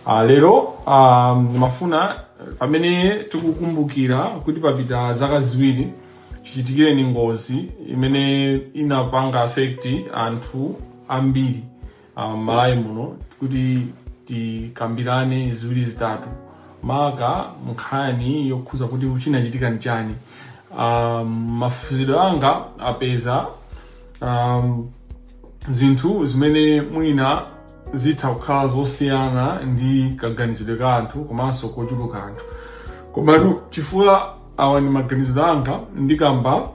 Ah, lero ah, ndimafuna pamene tikukumbukira kuti papita zaka ziwiri chichitikireni ngozi imene inapanga affect anthu ambiri ah, m'malawi muno kuti tikambirane ziwiri zitatu maka nkhani yokhuza kuti chinachitika ndi chani um, mafunsidwe anga apeza um, zinthu zimene mwina zitha kukhala zosiyana ndi kaganizidwe ka anthu komanso kochuluka anthu komano chifukwa awa ndi maganizidwe anga ndikamba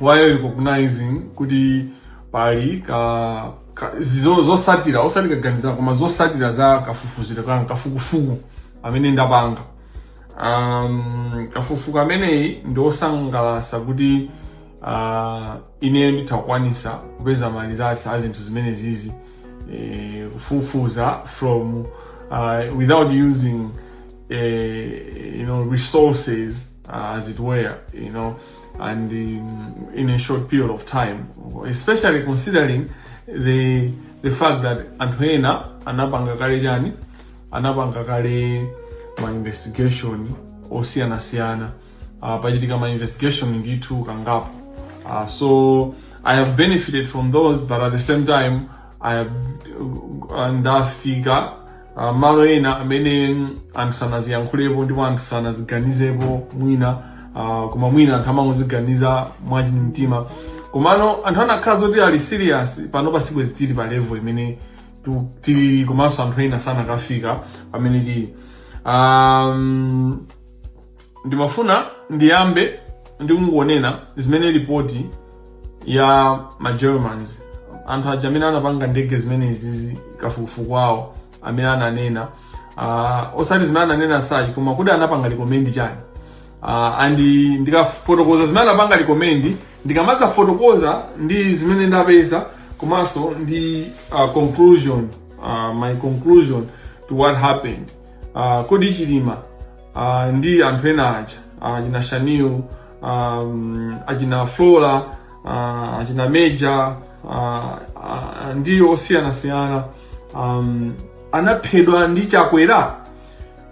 while recognizing kuti pali ka, ka zizo zosatira osati kaganizira koma zosatira za kafufuzidwe kanga kafukufuku amene ndapanga um, kafukufuku ameneyi ndi osangalasa kuti uh, ine nditha kukwanisa kupeza ma results a zinthu zimenezizi eh, kufufuza from uh, without using eh, you know, resources uh, as it were, you know, and um, in a short period of time, especially considering the the fact that anthu ena anapanga kale chani anapanga kale ma investigation osiyanasiyana uh, pachitika ma investigation ndithu kangapo uh, so i have benefited from those but at the same time i have uh, ndafika Ah, mmalo ena amene mm, anthu sanaziyankhulepo ndipo anthu sanaziganizepo mwina ah, koma mwina anthu amangoziganiza mwachinu mtima komano anthu akanakhala zoti ali serious pano sibwenzi tili pa level imene tu- tili komanso anthu ena sanakafika pamene tili um, ndimafuna ndiyambe ndi kungonena zimene ripoti ya ma Germans anthu aja amene anapanga ndege zimenezizi kafukufuku awo amene ananena uh, osati zimene ananena as such koma kuti anapanga recommend chani uh, and ndikafotokoza zimene anapanga recommend ndikamadzafotokoza ndi zimene ndapeza komanso ndi uh, conclusion uh, my conclusion to what happened uh, kodi chilima uh, ndi anthu ena aja uh, achina Shanil um, achina Flora uh, achina Major uh, uh, ndi osiyanasiyana um, anaphedwa ndi Chakwera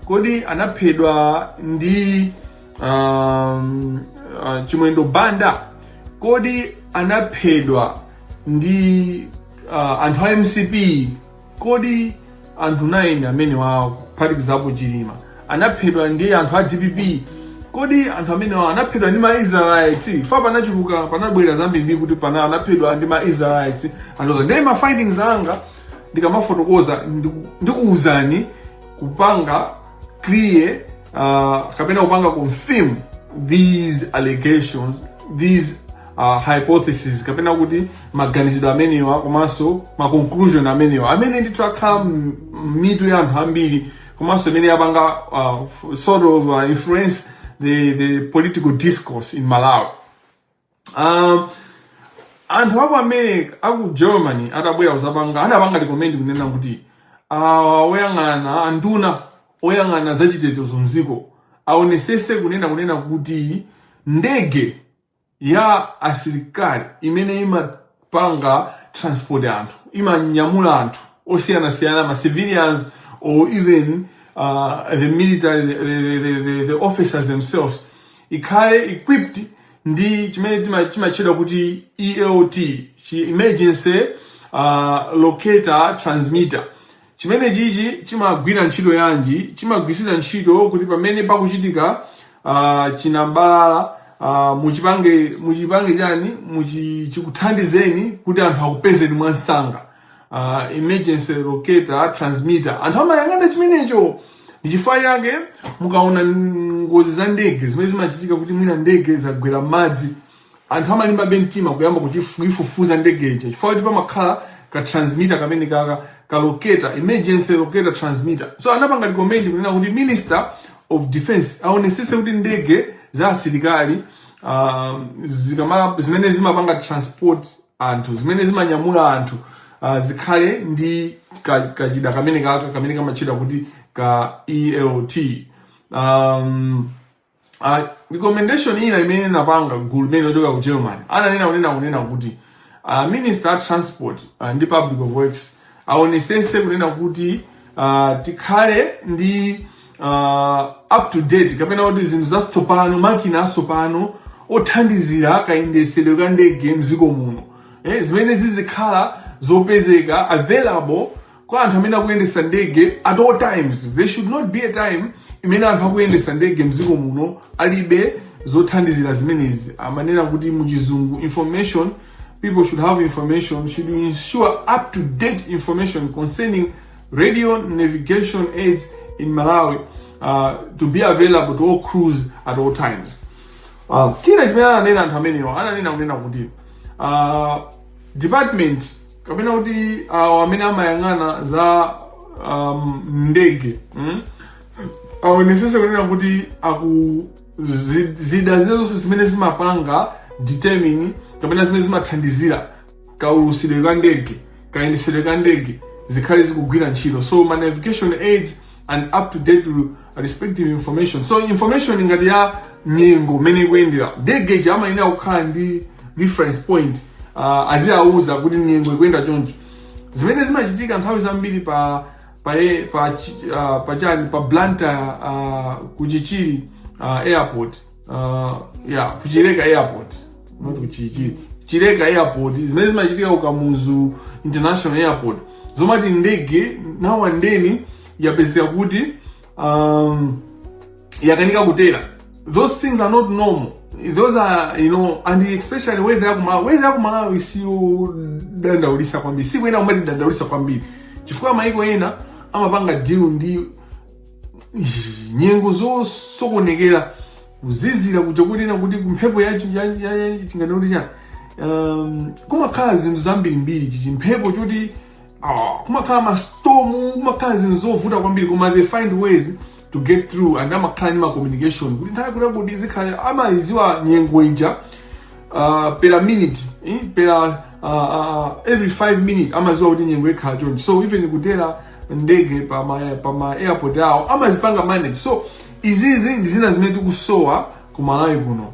kodi anaphedwa ndi um, uh, Chimwendo Banda kodi anaphedwa ndi uh, anthu a MCP Kodi anthu 9 amenewa kuphatikizapo Chilima anaphedwa ndi anthu a dpp? Kodi anthu amenewa anaphedwa ndi ma Israelites? Chifukwa panachuluka panabwera zambiri ndi kuti pana anaphedwa ndi ma Israelites. And also ndi ma findings anga ndikamafotokoza ndiku- ndikuuzani kupanga clear uh, kapena kupanga confirm these allegations these uh, hypothesis kapena kuti maganizidwe amenewa komanso ma conclusion amenewa amene ndithu akhala m'mitu ya anthu ambiri komanso imene yapanga uh, sort of uh, influence the, the political discourse in malawi um, anthu aku america aku germany atabwera kuzapanga anapanga recommend kunena kuti uh, oyang'ana anduna oyang'ana zachitetezo mdziko aonesese kunena kunena kuti ndege ya asilikali imene imapanga transport anthu imanyamula anthu osiyanasiyana ma civilians or even uh, the military the, the, the, the, the officers themselves ikhale equipped ndi chimene tima- chimatchedwa kuti ELT chi emergency uh, locator transmitter Chimene chichi chimagwira ntchito yanji? Chimagwiritsidwa ntchito kuti pamene pakuchitika uh, chinambalala uh, muchipange muchipange chani chikuthandizeni kuti anthu akupezeni mwansanga uh, emergency locator transmitter anthu amayang'ana chimenecho ndichifukwa yake mukaona ngozi za ndege zimene zimachitika kuti mwina ndege zagwera m'madzi Anthu amalimbabe mtima kuyamba kuchifu- kuifufuza ndege ija chifukwa choti pamakhala ka transmitter kamene kaka ka locator emergency locator transmitter so anapanga recommend kunena kuti minister of defense aonesese kuti ndege za asilikali uh, zikama zimene zimapanga transport anthu zimene zimanyamula anthu uh, zikhale ndi ka- kachida kamene kaka kamene kamatchedwa kuti ka ELT um, uh, recommendation ina imene linapanga gulu limeneli lochokera ku Germany ananena kunena kunena kuti uh, minister of transport uh, ndi public of works aonesese kunena kuti uh, tikhale ndi uh, up to date kapena kuti zinthu zatsopano makina atsopano othandizira kayendesedwe ka ndege mdziko muno eh, zimene zizikhala zopezeka available kwa anthu amene akuyendesa ndege at all times there should not be a time imene anthu akuyendesa ndege mdziko muno alibe zothandizira zimenezi amanena kuti muchizungu information people should have information should ensure up to date information concerning radio navigation aids in malawi uh, to be available to all crews at all times uh, china chimene ananena anthu amenewa ananena kunena kuti uh, department kapena kuti awo amene amayang'ana za um, ndege mm? aonesese kunena kuti aku zi- zida zina zonse zimene zimapanga determine kapena zimene zimathandizira kaulusidwe ka ndege kayendesedwe ka ndege zikhale zikugwira ntchito so ma navigation aids and up to date respective information so information ngati ya nyengo mmene ikuyendera ndege imayenera kukhala ndi reference point uh, aziwauza kuti nyengo ikuyenda choncho zimene zimachitika nthawi zambiri pa pa e- pa chi- ah, pa chani pa Blantyre uh, kuchichiri uh, airport uh, ya kuchileka airport not kuchichi chileka airport zimene zimachitika ku kamuzu international airport zomati ndege now and then yapezeka kuti um, yakanika kutera those things are not normal those are you know and especially weather ya kumalawi weather ya kumalawi siyodandaulisa kwambiri siyoyenera kumatidandaulisa kwambiri chifukwa maiko ena amapanga deal ndi nyengo zosokonekera kuzizira kuja kunena kuti kumphepo yatinganena kuti chani um, kumakhala zinthu zambirimbiri chichi mphepo choti ah, kumakhala mastomu kumakhala zinthu zovuta kwambiri koma they find ways to get through and amakhala ndi macommunication kuti nthawi kuti kuti zikhale amayiziwa nyengo ija uh, per minute eh, per uh, uh, every 5 minutes amaziwa kuti nyengo ikhala chonchi so even kutera ndege pa ma pa ma airport awo amazipanga manage so izizi ndi zina zimene tikusowa ku malawi kuno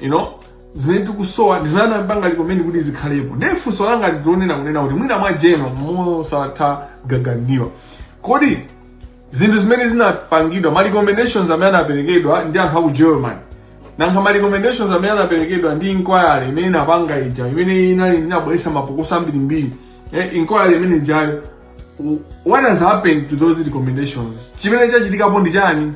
you know zimene tikusowa ndi zimene anapanga recommend kuti zikhalepo ndiye funso langa ndilonena kunena kuti mwina mwa Jehova mosatha gaganiwa kodi zinthu zimene zinapangidwa ma recommendations amene anaperekedwa ndi anthu aku german nanga ma recommendations amene anaperekedwa ndi inquiry imene inapanga ija imene inali inabweresa mapokoso ambirimbiri eh, inquiry imene ijayo w- what has happened to those recommendations chimene chachitikapo ndi chani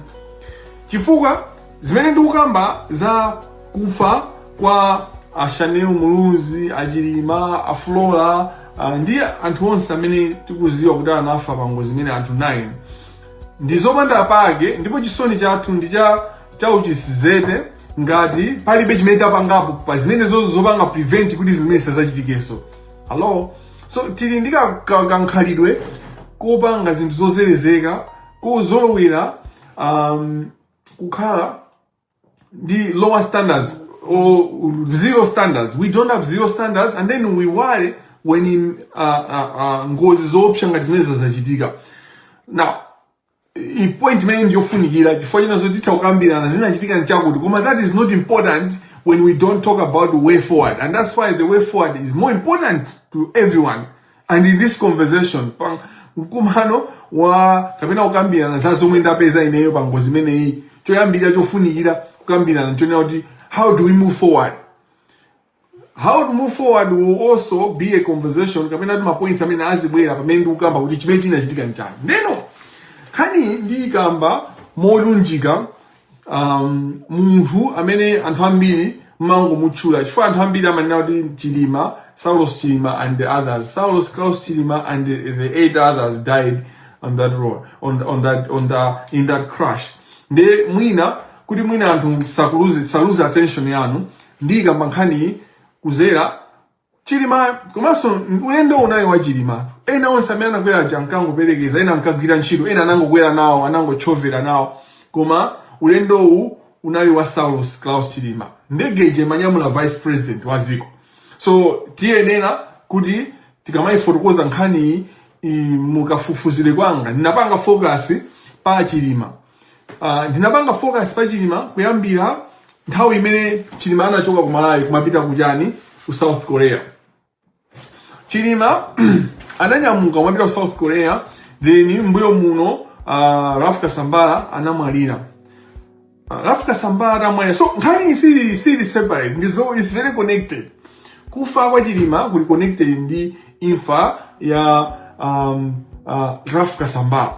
chifukwa zimene ndikukamba za kufa kwa ashanil muluzi achilima aflora uh, ndi anthu onse amene tikuziwa kuti anafa pa ngozi imene anthu 9 ndi zopanda pake ndipo chisoni chathu ndi chauchitsiru ngati palibe chimene tapangapo pa zimene zozo zopanga prevent kuti zimene zisadzachitikenso Hello? So tili ndi ka- ka- kankhalidwe kopanga zinthu zozerezeka kuzolowera um, kukhala ndi lower standards or zero standards we don't have zero standards and then we worry when in, uh, uh, uh, ngozi zoopsa ngati zimene zachitika now i point imeneyi ndiyofunikira chifukwa chinazo titha kukambirana zinachitika nchakuti koma that is not important when we don't talk about the way forward and that's why the way forward is more important to everyone and in this conversation pa mkumano wa kapena kukambirana za zomwe ndapeza ineyo pa ngozi imeneyi choyambira chofunikira kukambirana nchonena kuti how do we move forward how to move forward will also be a conversation kapena ndi mapoints amene azibwera pamene ndikukamba kuti chimene chinachitika nchani ndeno nkhani ndiyikamba molunjika um, munthu amene anthu ambiri amangomutchula chifukwa anthu ambiri amanena kuti chilima saulos chilima and the others saulos klaus chilima and the, the eight others died on that road on, the, on that on the, in that crash nde mwina kuti mwina anthu sakuluze saluze attention yanu ndiyikamba nkhaniyi kuzera chilima komanso ulendowu unali wa chilima ena onse amene anakwera aja ankangoperekeza ena ankagwira ntchito ena anangokwera nawo anangotchovera nawo koma ulendowu unali wa saulos claus chilima ndege ija imanyamula vice president wa ziko so tiyenera kuti tikamayifotokoza nkhaniyi i- mukafufuzire kwanga ndinapanga focus pa chilima Uh, ndinapanga focus pa Chilima kuyambira nthawi imene Chilima anachoka ku Malawi kumapita kuchani ku South Korea. Chilima ananyamuka kumapita ku South Korea then mbuyo muno uh, Ralph Kasambara anamwalira. Uh, Ralph Kasambara anamwalira. So nkhani iyi si separate it's very connected. Kufa kwa Chilima kuli connected ndi imfa ya um, uh, Ralph Kasambara.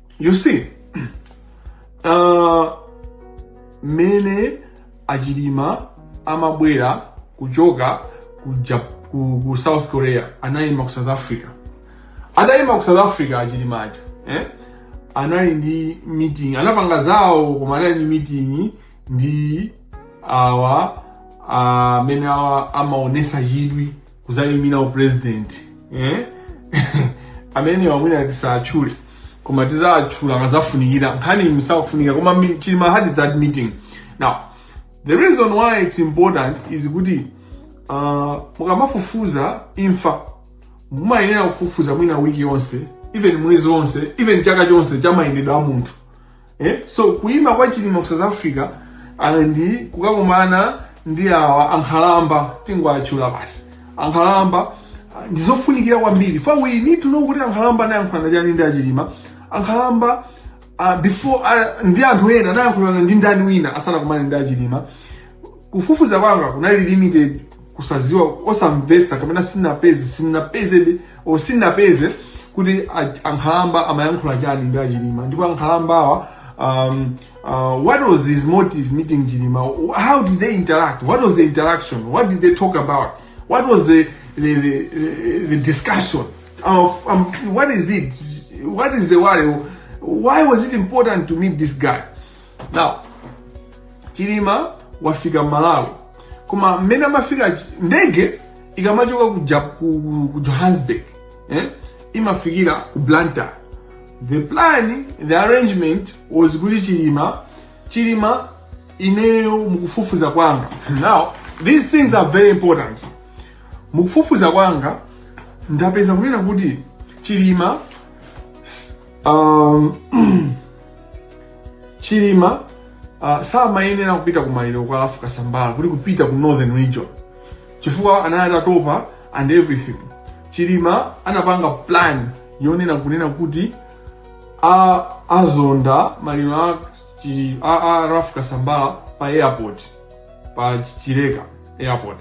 you see uh, mmene achilima amabwera kuchoka ku, Jap- ku, ku south korea anayima ku south africa atayima ku south africa achilima aja eh? anali ndi meeting anapanga zawo koma anali ndi meeting ndi awa amene awa amaonesa chidwi kuzayimira u president eh amenewa mwina tisawachule koma tizawachula akazafunikira nkhani msakufunika koma chilima had that meeting now the reason why it's important is kuti uh, mukamafufuza imfa mumayenera kufufuza mwina wiki yonse even mwezi wonse even chaka chonse cha mayendedwe a munthu eh? so kuima kwa chilima ku south africa and kukakumana ndi awa ankhalamba tingwatchula basi ankhalamba ah, ndi zofunikira kwambiri fa we need to know kuti ankhalamba anayankhulana chani ndi achilima ankhalamba ah, before ah, ndi anthu ena anayankhulana ndi ndani wina asanakumane ndi achilima kufufuza kwanga kunali limited kusaziwa osamvetsa kapena sinapeze sinapeze o sinapeze kuti a- ankhalamba amayankhula chani ndi a Chilima ndipo ankhalambawa um, uh, what was his motive meeting chilima how did they interact what was the interaction what did they talk about what was the the, the, the, the discussion of um, what is it what is the worry why was it important to meet this guy now chilima wafika malawi koma mmene amafika ndege ikamachoka ku, ja, ku, ku johannesburg eh? imafikira ku blantyre the plan the arrangement was kuti chilima chilima ineyo mukufufuza kwanga now these things are very important mukufufuza kwanga ndapeza kunena kuti chilima um, chilima uh, samayenera kupita ku maliro kwa a Ralph Kasambara kuti kupita ku northern region chifukwa anali atatopa and everything chilima anapanga plan yonena kunena kuti a azonda maliro a, chi- a, a Ralph Kasambara pa airport pa chileka airport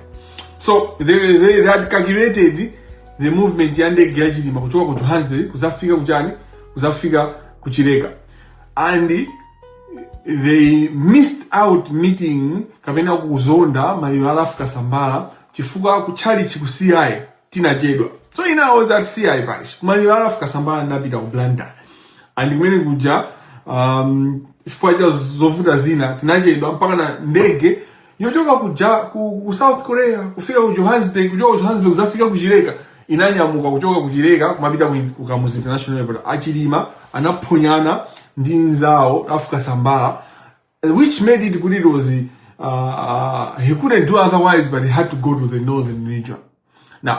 so they, they, they had calculated the movement ya ndege ya chilima kuchoka ku johannesburg kuzafika kuchani kuzafika ku Chileka and they missed out meeting kapena kuzonda maliro a Ralph Kasambara chifukwa kuchalichi ku ci tinachedwa so ine I was at ci parish kumaliro a Ralph Kasambara ndapita ku blantyre and kumene kuja um, chifukwa cha zovuta zina tinachedwa mpaka na ndege yochoka ku, ja, ku, ku south korea kufika ku johannesburg kuchoka ku johannesburg zafika ku chileka inanyamuka kuchoka ku chileka kumapita ku, ku Kamuzu international airport a Chilima anaphonyana ndi nzawo Ralph Kasambara uh, which made it kuti it was uh, uh, he couldn't do otherwise but he had to go to the northern region now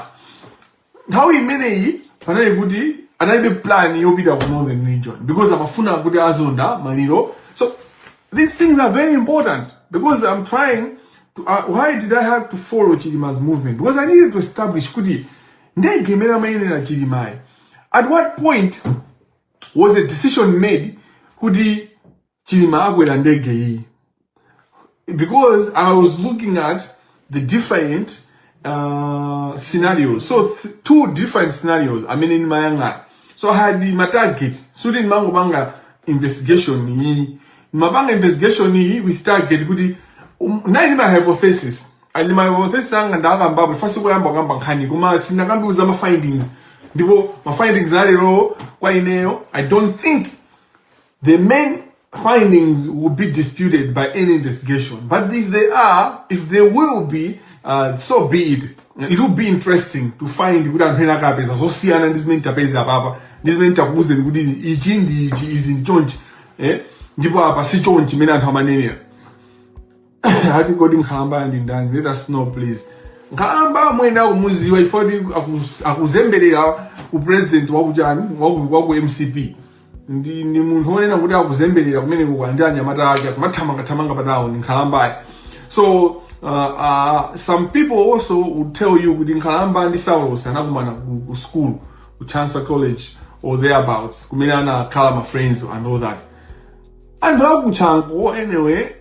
nthawi imeneyi panali kuti analibe plan yopita ku northern region because amafuna kuti azonda maliro so these things are very important because i'm trying to, uh, why did i have to follow chilima's movement because i needed to establish kuti ndege imene anakwera chilimayi at what point was a decision made kuti chilima akwera ndege iyi because i was looking at the different uh, scenarios so th two different scenarios amene ndimayang'ana so i had my target sikuti ndimangopanga investigation iyi ndimapanga investigation iyi with target kuti um, ndinali ndi my hypothesis and my hypothesis anga ndakambapo first kuyamba kukamba nkhani koma sinakambe za ma findings ndipo ma findings alero kwa ineyo i don't think The main findings would be disputed by any investigation. But if they are, if they will be, uh, so be it. It will be interesting to find kuti anthu ena akapeza zosiyana ndi zimene tapeza apapa ndi zimene takuuzeni kuti ichi ndi ichi izi ndi chonchi eh? ndipo apa si chonchi mene anthu amanenera ati kodi nkhalamba ndi ndani let us know please nkhalamba mwene akumuziwa chifukwa kuti akuz- akuzembelera upresident wakuchani waku, waku mcp ndi, ndi munthu wonena kuti akuzembelera kumene kuka ndi anyamata ake akumathamangathamanga patawo ndi nkhalambayo so uh, uh, some people also would tell you kuti nkhalamba ndi saulos anakumana ku, ku school ku chancellor college or thereabouts kumene anakhala ma friends and all that anthu akuchanco anyway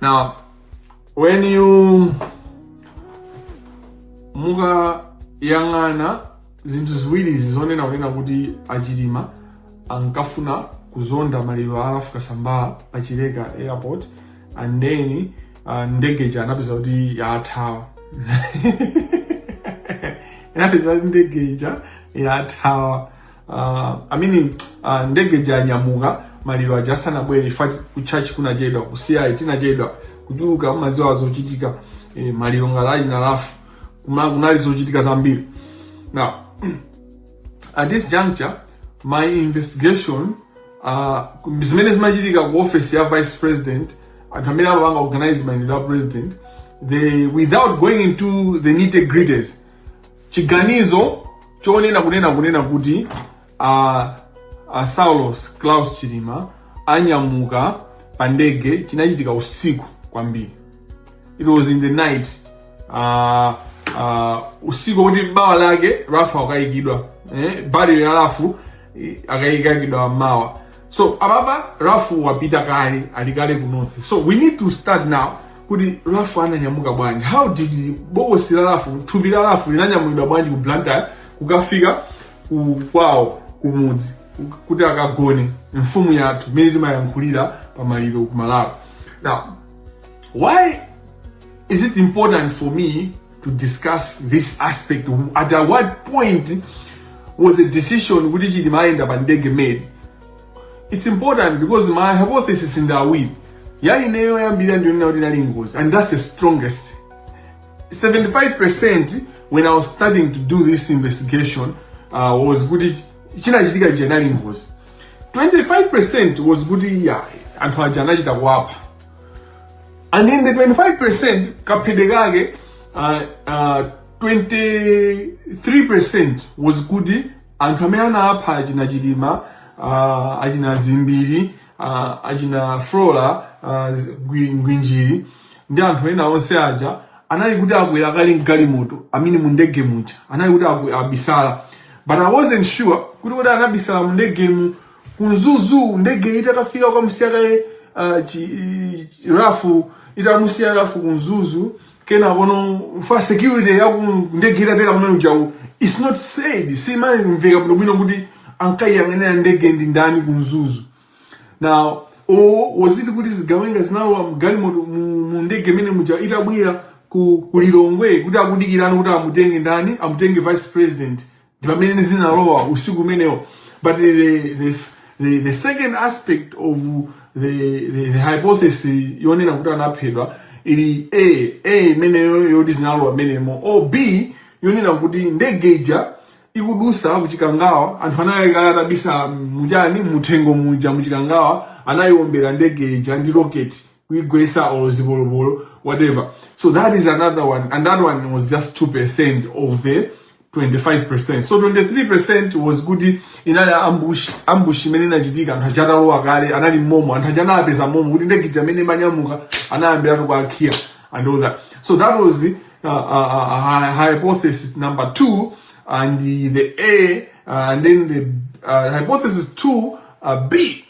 Now, when mukayang'ana zinthu ziwirizi zonena kunena kuti achilima ankafuna kuzonda maliro a a ralph kasambara pa chileka airport and then uh, ndege ija anapeza kuti yathawa anapeza kuti ndege ija yathawa uh, I mean uh, ndege ija yanyamuka maliro aja asanabwere ifeyo ku church tinachedwa ku CI tinachedwa kuchuluka mukudziwa zochitika eh, maliro ngati aja a Ralph Kuma- kunali zochitika zambiri now at this juncture my investigation uh, zimene zimachitika ku office ya vice president anthu amene amapanga organize mayendedwe a president they without going into the nitty gritties Chiganizo chonena kunena kunena kuti a, a Saulos Klaus Chilima anyamuka pa ndege chinachitika usiku kwambiri. It was in the night. Uh, uh, usiku wakuti mawa lake Ralph akayikidwa eh, body ya Ralph akayikidwa mawa so apapa ralph wapita kale ali kale ku north so we need to start now kuti ralph ananyamuka bwanji how did bokosi la ralph thupi la ralph linanyamulidwa bwanji ku blantyre kukafika ku kwawo kumudzi kuti akagone mfumu yathu mmene timayankhulira pa maliro ku malawi now why is it important for me to discuss this aspect at what point was a decision kuti chilima ayenda pa ndege made it's important because my hypothesis in that way ya ineyo yoyambira ndiyonena kuti inali ngozi and that's the strongest 75% when i was starting to do this investigation uh, was kuti chinachitika ichi inali ngozi 25% was kuti anthu aja anachita kuwapha and in the 25% kaphedwe kake uh, uh, 23% was kuti anthu amene anapha achina chilima uh, achina zimbiri uh, achina flora uh, Ngwi- ngwinjiri ndi anthu ena onse aja anali kuti akwera kale mgalimoto amene mu ndege muja anali kuti akwe- abisala but i wasn't sure kuti kuti anabisala mu ndege mu ku Mzuzu ndege itakafika kukamusiya kaye uh, chi, i- chi- rafu itamusiya rafu ku Mzuzu kena kono for security ya ku ndege itatera kumene ujawu it's not said simamveka bwino bwino kuti ankayiyang'anira ndege ndi ndani ku Mzuzu now or was it kuti zigawenga zinalowa mgalimoto mu mu ndege imene muja itabwera ku ku Lilongwe kuti akudikirana kuti amutenge ndani amutenge vice president ndi pamene zinalowa usiku umenewo but the, the, the, the second aspect of the, the, the hypothesis yonena kuti anaphedwa ili a a imeneyo yoti zinalowa mmenemo or b yonena kuti ndege ija ikudusa kuchikangawa anthu anayikana atabisala muchani muthengo muja muchikangawa anayiwombera ndege ija ndi rocket kuigwesa or zipolopolo whatever so that is another one and that one was just 2% of the 25% so 23% was kuti inali ambush ambush imene inachitika anthu aja atalowa kale anali momo anthu aja anapeza momo kuti ndege ija imene imanyamuka anayambiratu ku KIA and all that so that was uh, uh, uh, hy- hypothesis number two and the, the a uh, and then the uh, hypothesis two uh, b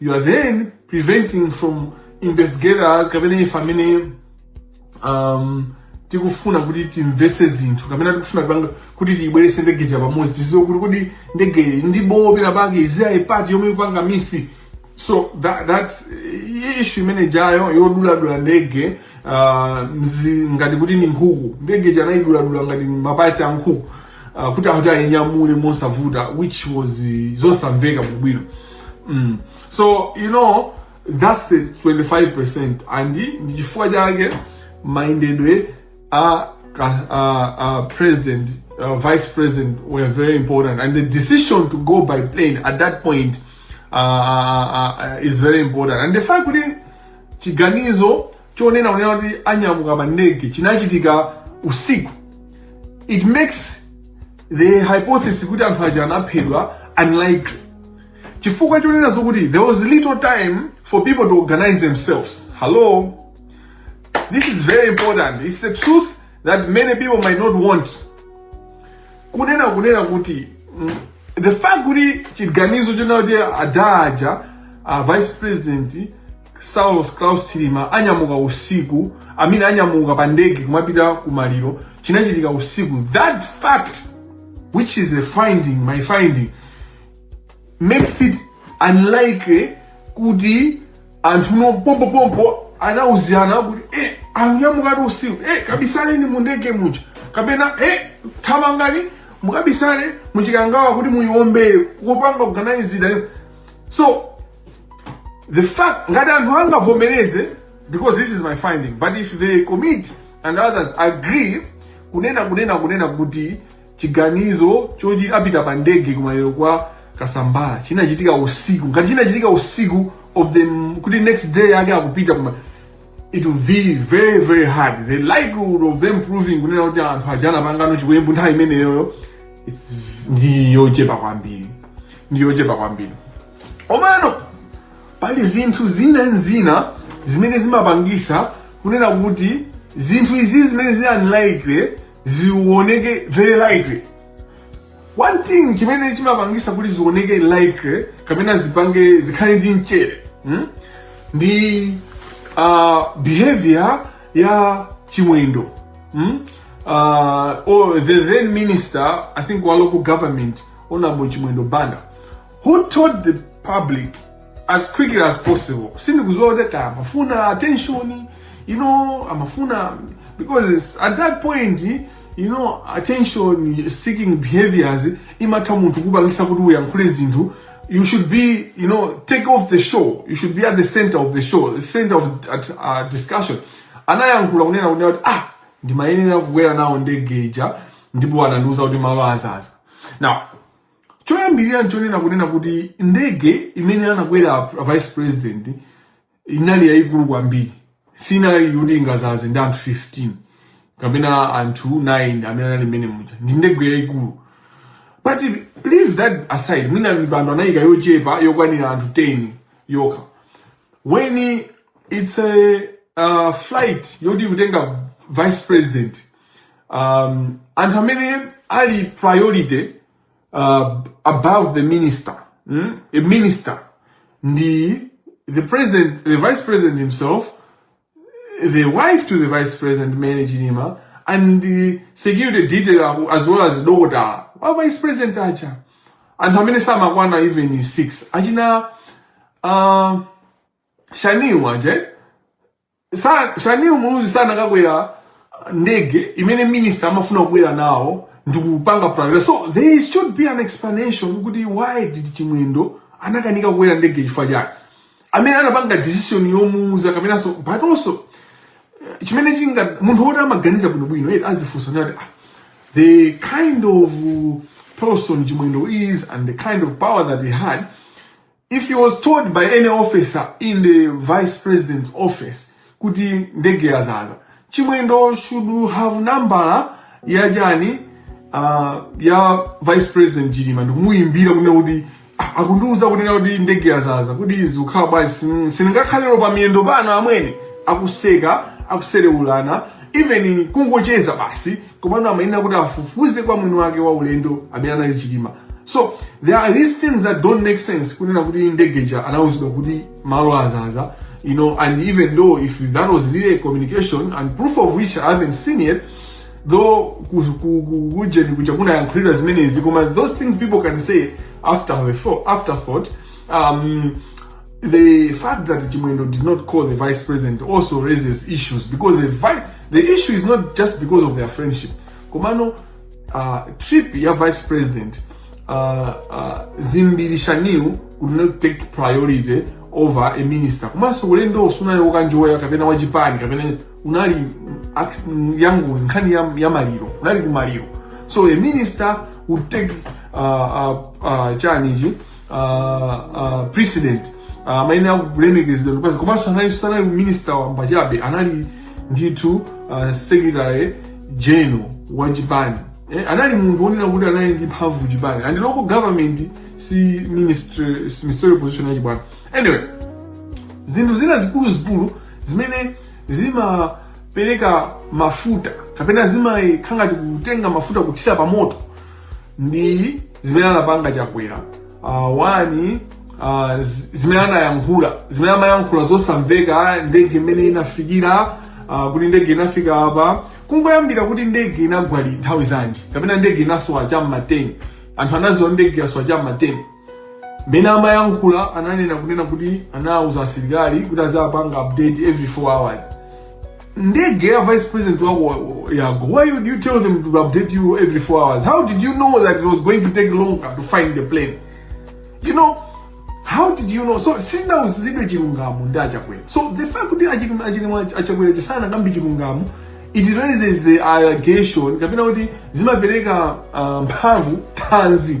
you are then preventing from investigators kapena ife amene um, tikufuna kuti timvese zinthu kapena tikufuna panga kuti tiyibweretse ndege ija pamodzi tidziwe kuti kodi ndege iyi ndi bopera pake iziyayi pati yomwe ikupanga misi so that, that issue imene ijayo yoduladula ndege uh, mzi, ngati kuti ni nkhuku ndege ija anayiduladula ngati maparts a nkhuku uh, kuti akuti ayinyamule mosavuta which was uh, zosamveka bwinobwino mm. so you know that's the 25% and ndi chifukwa chake mayendedwe a ka- a- a president uh, vice president were very important and the decision to go by plane at that point uh, uh, uh, is very important and the fact kuti chiganizo chonena kunena kuti anyamuka pa ndege chinachitika usiku it makes the hypothesis kuti anthu aja anaphedwa unlikely chifukwa chonena zokuti there was little time for people to organize themselves hello this is very important it's a truth that many people might not want kunena kunena kuti mm, the fact kuti chiganizo chonena kuti adaaja a vice president saulos klaus chilima anyamuka usiku amene anyamuka pa ndege kumapita ku maliro chinachitika usiku that fact which is the finding my finding makes it unlikely kuti anthuwo pompopompo anauzirana kuti e anyamuka usiku e kabisaleni mu ndege muja kapena e thamangani mukabisale muchikangawa kuti muyiwombere kupanga organize so the fact ngati anthu angavomereze because this is my finding but if the committee and others agree kunena kunena kunena kuti Chiganizo choti apita pa ndege kumaliro kwa Kasambara chinachitika usiku. Ngati chinachitika usiku of the kuti next day yake akupita kuma it will be very very hard the likelihood of them proving kunena kuti anthu aja anapangana chiwembu nthawi imeneyoyo it's ndi yochepa kwambiri ndi yochepa kwambiri komano pali zinthu zina ndi zina zimene zimapangisa kunena kuti zinthu izi zimene zi unlikely zioneke very likely one thing chimene chimapangisa kuti zioneke likely kapena zipange zikhale ndi mchere hmm? ndi uh, behavior ya chimwendo hmm? uh, or the then minister i think wa local government honorable chimwendo banda who told the public as quickly as possible sindikuziwa kuti amafuna attention you know amafuna because at that point you know attention seeking behaviors imatha munthu kupangisa kuti uyankhule zinthu you should be you know take off the show you should be at the center of the show the center of at, uh, discussion anayankhula kunena kunena kuti ah ndimayenera kukwera nawo ndege ija ndipo anandiuza kuti malo azaza now choyambirira nchonena kunena kuti ndege imene anakwera a vice president inali yayikulu kwambiri sinali yoti ingazaze ndi anthu 15 kapena anthu 9 amene anali mmene muja ndi ndege yayikulu but leave that aside mwina mipando anayika yochepa yokwanira anthu 10 yokha when it's a uh, flight yoti ikutenga vice president um, anthu amene ali priority uh, above the minister mm? a minister ndi the president the vice president himself the wife to the vice president Mary Chilima and the security detail as well as dokotala wa vice president acha anthu amene samakwana even 6 achina uh, shaniwa je Sa- Shanil Muluzi sanakakwera ndege imene minister amafuna kukwera nawo ndikupanga priority so there should be an explanation kuti why did chimwendo anakanika kukwera ndege chifukwa chake amene anapanga decision yomuuza kapenanso but also eh, chimene chinga munthu woti amaganiza bwinobwino yet azifunsa nati ah, the kind of uh, person chimwendo is and the kind of power that he had If he was told by any officer in the vice president's office kuti ndege yazaza, Chimwendo should have nambala ya chani uh, ya vice president Chilima ndikumuyimbira kunena kuti "Ah, akundiuza kunena kuti ndege yazaza kuti zikukhala bwanji sin- sindingakhalero pa miyendo pano amwene akuseka akuserewulana even kungocheza basi komano amayenera kuti afufuze kwa mwini wake wa ulendo amene anali chilima so there are these things that don't make sense kunena kuti ndege ija anawuzidwa kuti malo azaza you know and even though if that was really a communication and proof of which i haven't seen yet though ku- ku- ku- kujeni kuja kunayankhulidwa zimenezi koma those things people can say after the thought, afterthought um, The fact that Chimwendo did not call the vice president also raises issues because the, vi- the issue is not just because of their friendship. Komano, uh, trip ya vice president uh, uh, Dzimbiri Shanil could not take priority over a minister komanso ulendowu sunali wokanjoya kapena wachipani kapena unali ac- yangu nkhani ya, ya maliro unali kumaliro so a minister would take uh, uh, uh, chanichi uh, precedent uh, amayenera kulemekezedwa ndikupeza komanso anali sanali minister wamba chabe anali ndithu uh, secretary general wa chipani eh, anali munthu wonena kuti anali ndi mphamvu m'chipani and local government si ministry si ministerial position ya chipani anyway zinthu zina zikuluzikulu zimene zimapereka mafuta kapena zimakhala ngati kutenga mafuta kuthira pa moto ndi zimene anapanga chakwera uh, one uh, zi- zimene anayankhula zimene amayankhula zosamveka ndege imene inafikira uh, kuti ndege inafika apa kungoyambira kuti ndege inagwa li nthawi zanji kapena ndege inasowa cha mma 10 anthu anaziwa ndege yasowa cha mma 10 Mene amayankhula ananena kunena kuti anawuza asilikali kuti azapanga update every 4 hours. Ndege ya vice president wako wa- wa- yako, why would you tell them to update you every 4 hours? How did you know that it was going to take longer to find the plane? You know, how did you know? So sitinauzidwe chilungamo ndi achakwera. So the fact kuti achilima achilima achakwera sanakambe chilungamo it raises the allegation kapena kuti zimapereka uh, mphamvu tanzi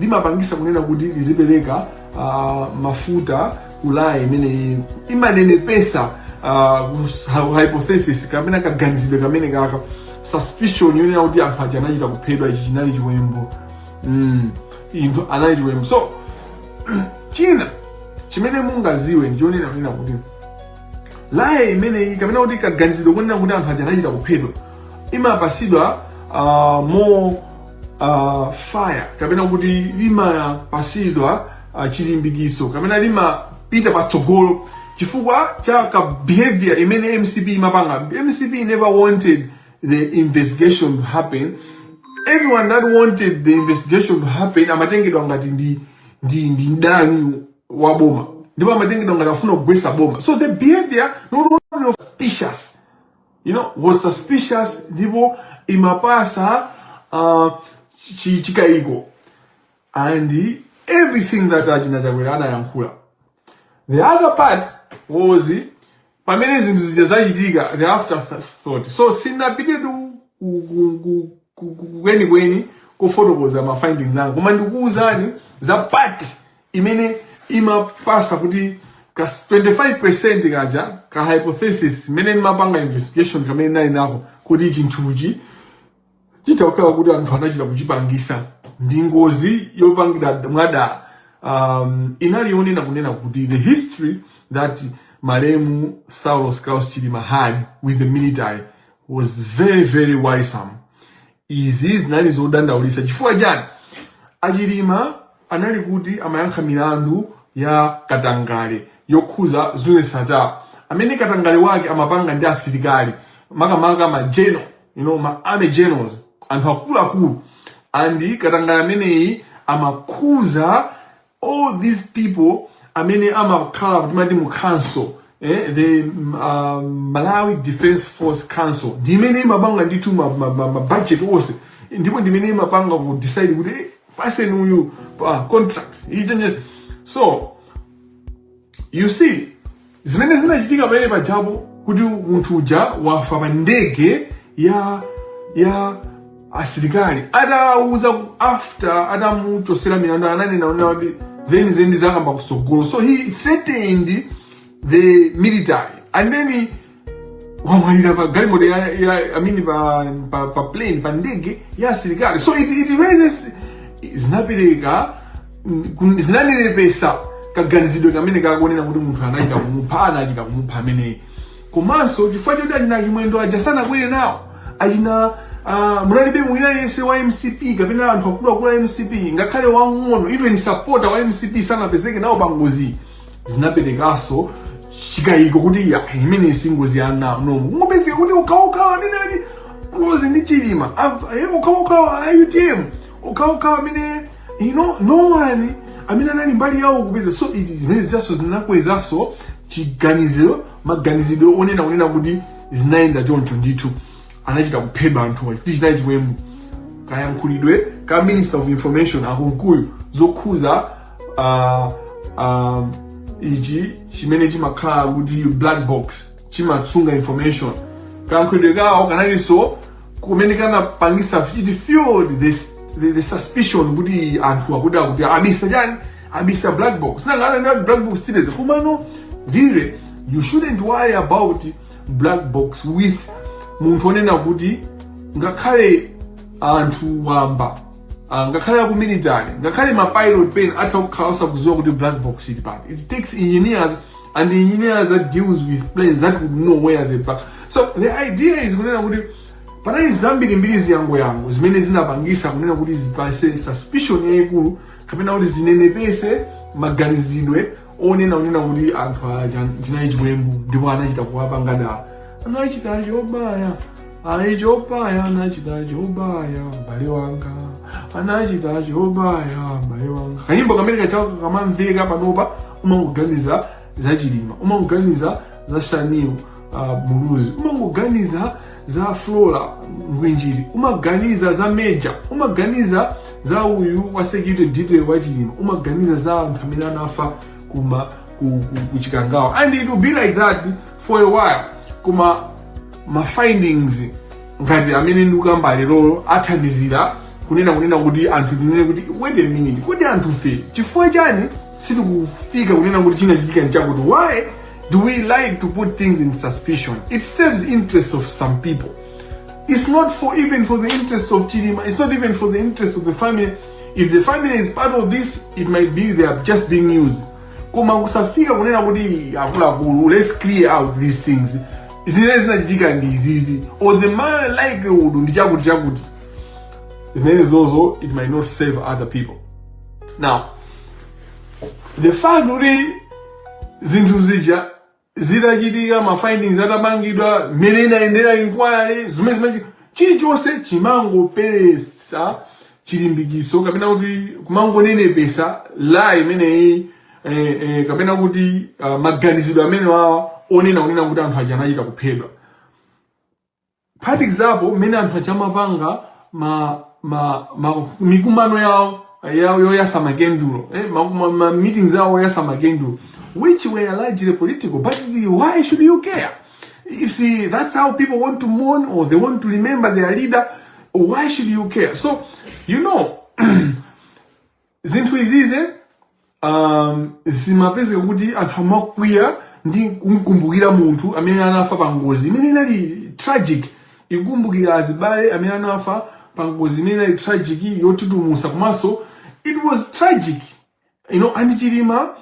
limapangisa kunena kuti lizipereka uh, mafuta ku lie imene imanenepesa uh, hypothesis kapena kaganizidwe kameneka ka suspicion yonena kuti anthu aja anachita kuphedwa ichi chinali chiwembu mm. ndithu anali chiwembu so china chimene mungaziwe ndi chonena kunena kuti lie imeneyi kapena kuti kaganizidwe konena kuti anthu aja anachita kuphedwa imapasidwa uh, more uh, fire kapena kuti limapasidwa uh, chilimbikitso kapena limapita patsogolo chifukwa cha ka behavior imene mcp imapanga mcp never wanted the investigation to happen everyone that wanted the investigation to happen amatengedwa ngati ndi ndi ndi mdani wa boma ndipo amatengedwa ngati afuna kugwesa boma so the behavior not only was suspicious you know was suspicious ndipo imapasa uh, chi- chikaiko and everything that achina Chakwera anayankhula the other part was pamene zinthu zija zachitika the afterthought so sinapite tu ku- ku- ku- ku- ku- kwenikweni kofotokoza ma findings anga koma ndikuuzani za part imene imapasa kuti ka 25% kaja ka hypothesis imene imapanga investigation kamene nali nako kuti chinthuchi chitha kukhala kuti anthu anachita kuchipangisa ndi ngozi yopangidwa mwadala um, inali yonena kunena kuti the history that malemu saulos klaus chilima had with the military was very very worrisome Izi zinali zodandaulisa chifukwa chani? A Chilima anali kuti amayankha milandu ya katangale yokhuza Zune Sattar amene katangale wake amapanga ndi asilikali makamaka ma general, you know, ma army generals, anthu akuluakulu and katangale ameneyi amakhuza all these people amene amakhala kuti mu council eh, the uh, malawi defense force council ndi imene imapanga ndithu mabudget ma, ma, ma onse ndipo ndi imene imapanga kudecide kuti eh, paseni uyu contract ichi so you see zimene zinachitika pamene pajapo kuti munthu uja wafa pa ndege ya ya asilikali atauza after atamuchosera milandu ananena zonena kuti zeni zeni ndizakamba kusogolo so he threatened the military and then wamwalira pa galimoto ya, ya I mean pa, pa, pa plane pa ndege ya asilikali so it, it raises zinapereka kun- zinanenepesa kaganizidwe kamene kakuonera kuti munthu anachita kumupha anachita kumupha ameneyi komanso chifukwa choti achina chimwendo aja sanakwere nawo achina ah, munalibe wina aliyense wa mcp kapena anthu akuluakulu a mcp ngakhale wang'ono even supporter wa mcp sanapezeke nawo pa ngozi zinaperekanso chikayiko kuti aa imeneyi singozi yai no kungopezeka kuti okhaokhawa amene ali close ndi chilima Av- eh, okhaokhawa a utm okhaokhawa amene you know no one amene anali mbali yawo kupeza so it is zimene zijazo zinakwezaso chiganizo maganizidwe onena kunena kuti zinayenda choncho ndithu anachita kuphedwa anthuwa kuti chinali chiwembu kayankhulidwe ka minister of information a Kunkuyu zokhuza uh, uh, ichi chimene chimakhala kuti black box chimasunga information kayankhulidwe kawo kanalinso kumene kanapangisa it fueled this the, the suspicion kuti anthu aziti abisa chani abisa black box sinanga ananena kuti black box tileze komano ndire you shouldn't worry about black box with munthu onena kuti ngakhale anthu wamba ah, ngakhale aku military ngakhale ma pilot pen atha kukhala osakuziwa kuti black box ili pati it takes engineers and the engineers that deals with planes that would know where the black so the idea is kunena kuti panali zambiri mbiri zizang'onozang'ono zimene zinapangisa kunena kuti zipatse suspicion yayikulu kapena kuti zinenepetse maganizidwe onena kunena kuti anthu aja chinali chiwembu ndipo anachita kuwapanga dala anachita chobaya ayi chobaya anachita chobaya m'bale wanga anachita chobaya m'bale wanga kanyimbo kamene kaja ko kakamamveka panopa umangoganiza za chilima umangoganiza za Shanil uh, muluzi umangoganiza za flora ngwinjiri umaganiza za meja umaganiza za uyu wa security detail wa chilima umaganiza za anthu amene anafa kuma ku, ku, ku chikangawa and it will be like that for a while koma ma findings ngati amene ndikukamba lerowo athandizira kunena kunena kuti anthu tinene kuti wait a minute kodi anthufe chifukwa chani sitikufika kunena kuti chinachitika nchakuti why do we like to put things in suspicion it serves the interest of some people it's not for even for the interest of chilima it's not even for the interest of the family if the family is part of this it might be they are just being used koma kusafika kunena kuti akuluakulu let's clear out these things zimene zinachitika ndi izizi or the more likelihood ndi chakuti chakuti zimene zozo it might not serve other people now the fact kuti zinthu zija zitachitika ma findings atapangidwa mmene inayendera inquiry zimene zimachi chilichonse chimangopereka chilimbikitso kapena kuti kumangonenepesa lie imeneyi eh, eh, kapena kuti uh, maganizidwe amenewawa onena kunena kuti anthu aja anachita kuphedwa for example mmene anthu aja amapanga ma, ma, ma mikumano yawo yawo yoyasa makendulo eh, ma, ma, ma meetings awo oyasa makendulo which were largely political but why should you care If uh, that's how people want to mourn or they want to remember their leader, why should you care? So, you know, zinthu izizi um, zimapezeka kuti anthu amakwiya ndi kumkumbukira munthu amene anafa pa ngozi imene inali tragic ndi kukumbukira azibale amene anafa pa ngozi imene inali tragic yotutumusa komanso it was tragic you know, and chilima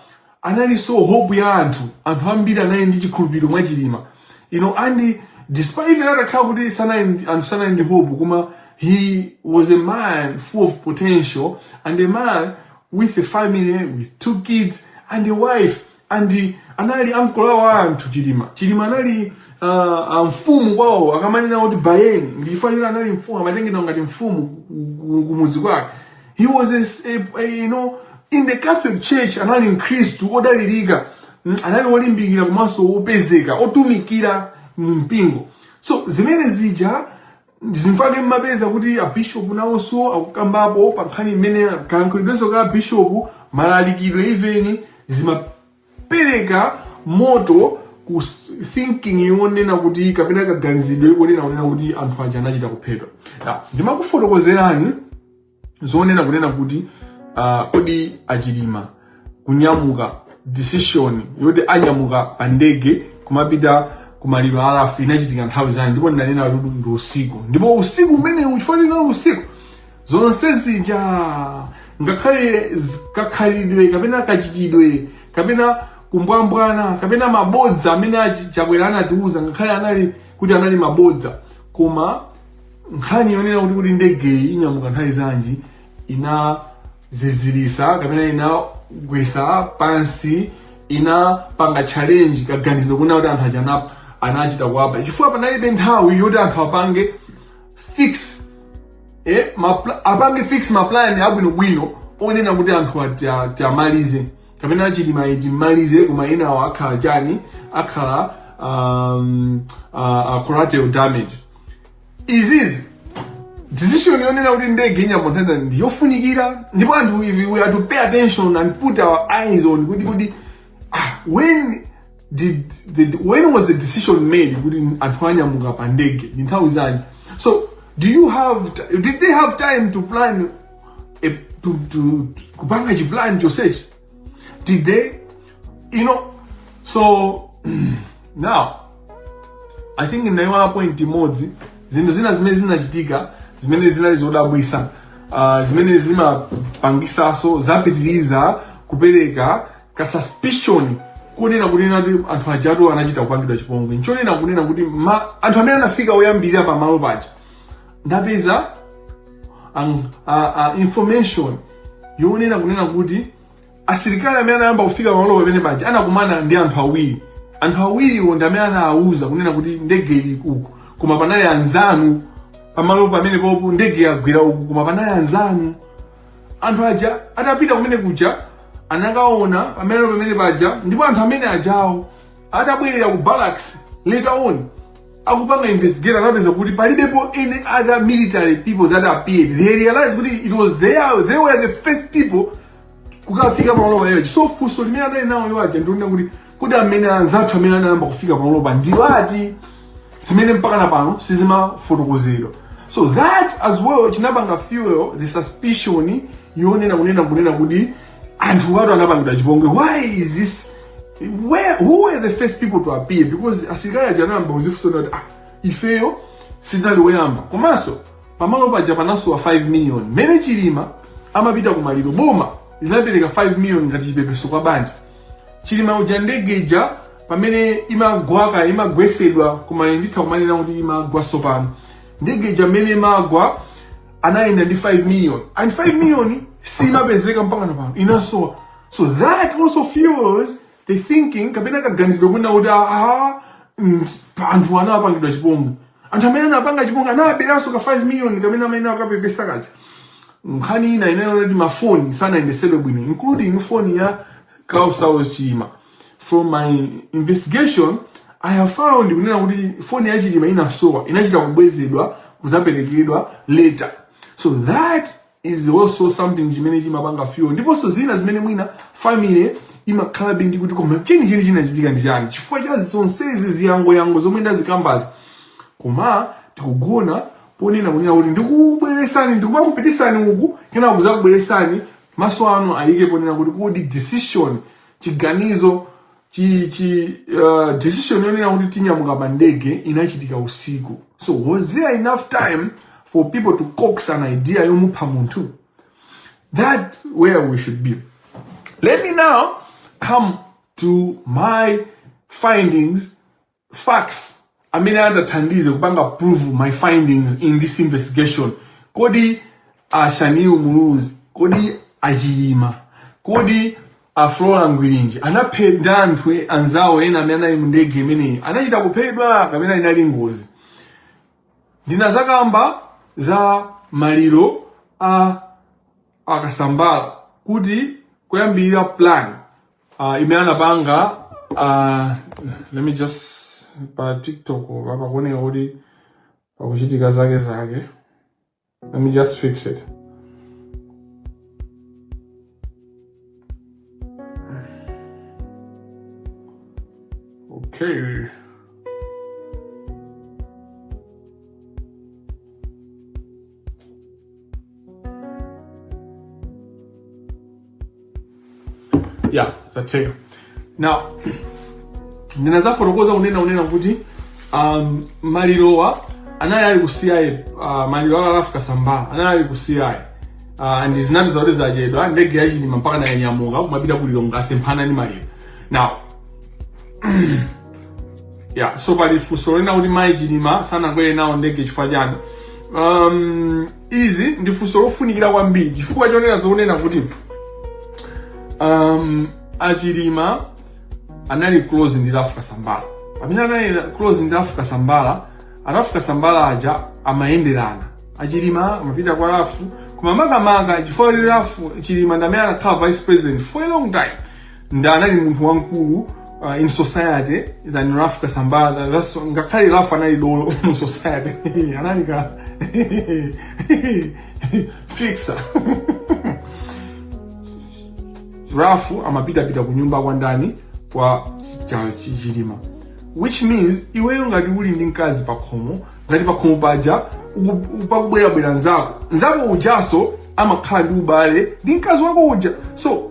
analinso hope ya anthu anthu ambiri anali ndi chikhulupiriro mwa chilima you know, and despite that atakhala kuti sanali- anthu sanali ndi hope koma he was a man full of potential and a man with a family with two kids and a wife and anali ankolo awo a anthu chilima chilima anali uh, uh, mfumu kwawo akamanena kuti biyeni ndichifukwa choti anali mfumu amatengedwa ngati mfumu ku- ku- kumudzi kwake he was a, s- a, a, you know in the catholic church anali mkhristu odalirika mm, anali olimbikira komanso opezeka otumikira mu mpingo so zimene zija ndichifukwa chake mmapeza kuti abishopu nawonso akukambapo pa nkhani imene kayankhulidwenso ka abishopu malalikidwe even zimapereka moto ku s- thinking yonena kuti kapena kaganizidwe konena kunena kuti anthu aja anachita kuphedwa Now, ndimakufotokozerani zonena kunena kuti uh, kodi achilima kunyamuka decision yoti anyamuka pa ndege kumapita kumaliro a Ralph inachitika nthawi zanji ndipo ndinanena kuti ndi usiku ndipo usiku umenewu chifukwa choti inali usiku zonse zija ngakhale z- kakhalidwe kapena kachitidwe kapena kumbwambwana kapena mabodza amene achi- chakwera anatiuza ngakhale anali kuti anali mabodza koma nkhani yonena kuti kuti ndegeyi inyamuka nthawi zanji inazizirisa kapena inagwesa pansi inapanga challenge kaganizo konena kuti anthu aja ana- anachita kuwapha chifukwa panalibe nthawi yoti anthu apange fix eh, mapla- apange fix maplan abwinobwino onena kuti anthuwa ti- tiwamalize kapena chilimayu timmalize koma enawo akhala chani akhala um, uh, uh, collateral damage izizi decision yonena kuti ndege inyamuka nthawi zanji ndiyofunikira ndipo anthu ife we have to pay attention and put our eyes on kuti kuti ah, when did, did when was the decision made kuti anthu anyamuka pa ndege ndi nthawi zanji so do you have ti- did they have time to plan a, to, to, to kupanga chiplan chonsechi Did they, you know, so now I think ndayiwala point imodzi zinthu zina zimene zinachitika zimene zinali zodabwisa uh, zimene zimapangisaso zapitiriza kupereka ka suspicion kunena kunena kuti anthu ajatu anachita kupangidwa chipongwe nchonena kunena kuti anthu amene anafika oyambirira pamalo paja ndapeza a, a, a, information yonena kunena kuti asilikali amene anayamba kufika pamalo pamene paja anakumana ndi anthu awiri anthu awiriwo ndi amene anawauza kunena kuti ndege ili uku koma panali anzanu pamalo pamene popo ndege yagwera uku koma panali anzanu anthu aja atapita kumene kuja anakaona pamene pamene paja ndipo anthu amene ajawo atabwerera ku barracks later on akupanga investigate anapeza kuti palibepo any other military people that appeared they realized kuti it was they, are, they were the first people kukafika pamalo paja so funso limene anali nalo iwo aja ndi lonena kuti kodi amene anzathu amene anayamba kufika pamalo apa ndi ati zimene mpaka na pano sizimafotokozedwa so that as well chinapanga fuel the suspicion yonena kunena kunena kuti anthu awatu anapangidwa chipongwe why is this where who were the first people to appear because asilikali aja anayamba kuzifunsa kuti ah ifeyo sitinali woyamba komanso pamalo paja panasowa 5 million mmene Chilima amapita ku maliro boma linapereka 5 million ngati chipepeso kwa banja Chilima uja ndege ija pamene imagwa ka- imagwesedwa kaya nditha kumanena kuti imagwa sopano ndege ija mmene imagwa anayenda ndi 5 million and 5 million simapezeka mpaka na pano inasowa so that also fuels the thinking kapena kaganizidwe kunena kuti aha mm, pa- anthu anawapangidwa chipongwe anthu amene anapanga chipongwe anaberanso ka 5 million kamene amakapepesa kaja nkhani ina ili yokuti mafoni sanayendesedwe bwino including foni ya Klaus Saulos Chilima from my investigation i have found kunena kuti foni ya Chilima inasowa inachita kubwezedwa kuzaperekedwa later so that is also something chimene chimapanga fuel ndiponso zina zimene mwina family imakhala mbindi kuti koma cheni cheni chinachitika ndi chani chifukwa cha zonsezi ziyangoyango zomwe ndazikambazi koma tikugona ponena kunena kuti ndikubweresani ndikumakupitisani uku kenako kuzakubweresani maso anu ayike ponena kuti kodi decision chiganizo chi, chi uh, decision yonena kuti tinyamuka pa ndege inachitika usiku so was there enough time for people to coax an idea yomupha munthu that where we should be let me now come to my findings facts amene angathandize kupanga prove my findings in this investigation kodi a Shanil Mulunzi kodi a Chilima kodi a Flora Ngwirinji anaphedwa ndi anthu e- anzawo ena amene anali mu ndege imeneyi anachita kuphedwa kapena inali ngozi ndinazakamba za maliro a a Kasambara kuti kuyambirira plan uh, imene anapanga uh, let me just pa tiktok apa pakuoneka kuti pakuchitika zake zake let me just fix it okay ya zatheka now ndinazafotokoza kunena kunena kuti um, malirowa anali ali ku CI uh, maliro a Ralph Kasambara anali ali ku CI uh, and zinati zakuti zachedwa ndege ya Chilima mpaka nayanyamuka kumapita ku Lilongwe asemphana ndi maliro now ya so pali funso lonena kuti mayi Chilima sanakwere nawo ndege chifukwa chani um, izi ndi funso lofunikira kwambiri chifukwa chonena zonena kuti um, a Chilima anali close ndi Ralph Kasambara pamene anali close ndi Ralph Kasambara a Ralph Kasambara aja amayenderana a Chilima amapita kwa Ralph koma makamaka chifukwa kuti Ralph Chilima ndamene anakhala vice president for a long time ndi anali munthu wamkulu uh, in society than Ralph Kasambara That's- ngakhale Ralph anali dolo mu society anali ka fixer Ralph amapitapita ku nyumba kwa ndani kwa cha- chi- Chilima which means iweyo ngati uli ndi mkazi pakhomo ngati pakhomo paja uku- pakubwerabwera nzako nzako ujanso amakhala ndi ubale ndi mkazi wako uja so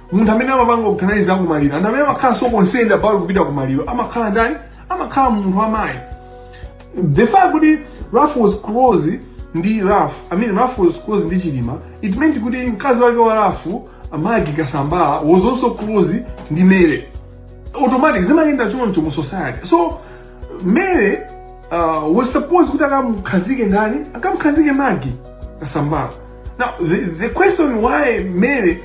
munthu amene amapanga organize za kumaliro anthu amene amakhala so concerned about kupita kumaliro amakhala ndani amakhala munthu wamayi the fact kuti Ralph was close ndi Ralph I mean Ralph was close ndi Chilima it meant kuti mkazi wake wa Ralph Maggie Kasambara was also close ndi Mary automatic zimayenda choncho mu society so Mary uh, was supposed kuti akamkhazike ndani akamkhazike Maggie Kasambara now the, the question why Mary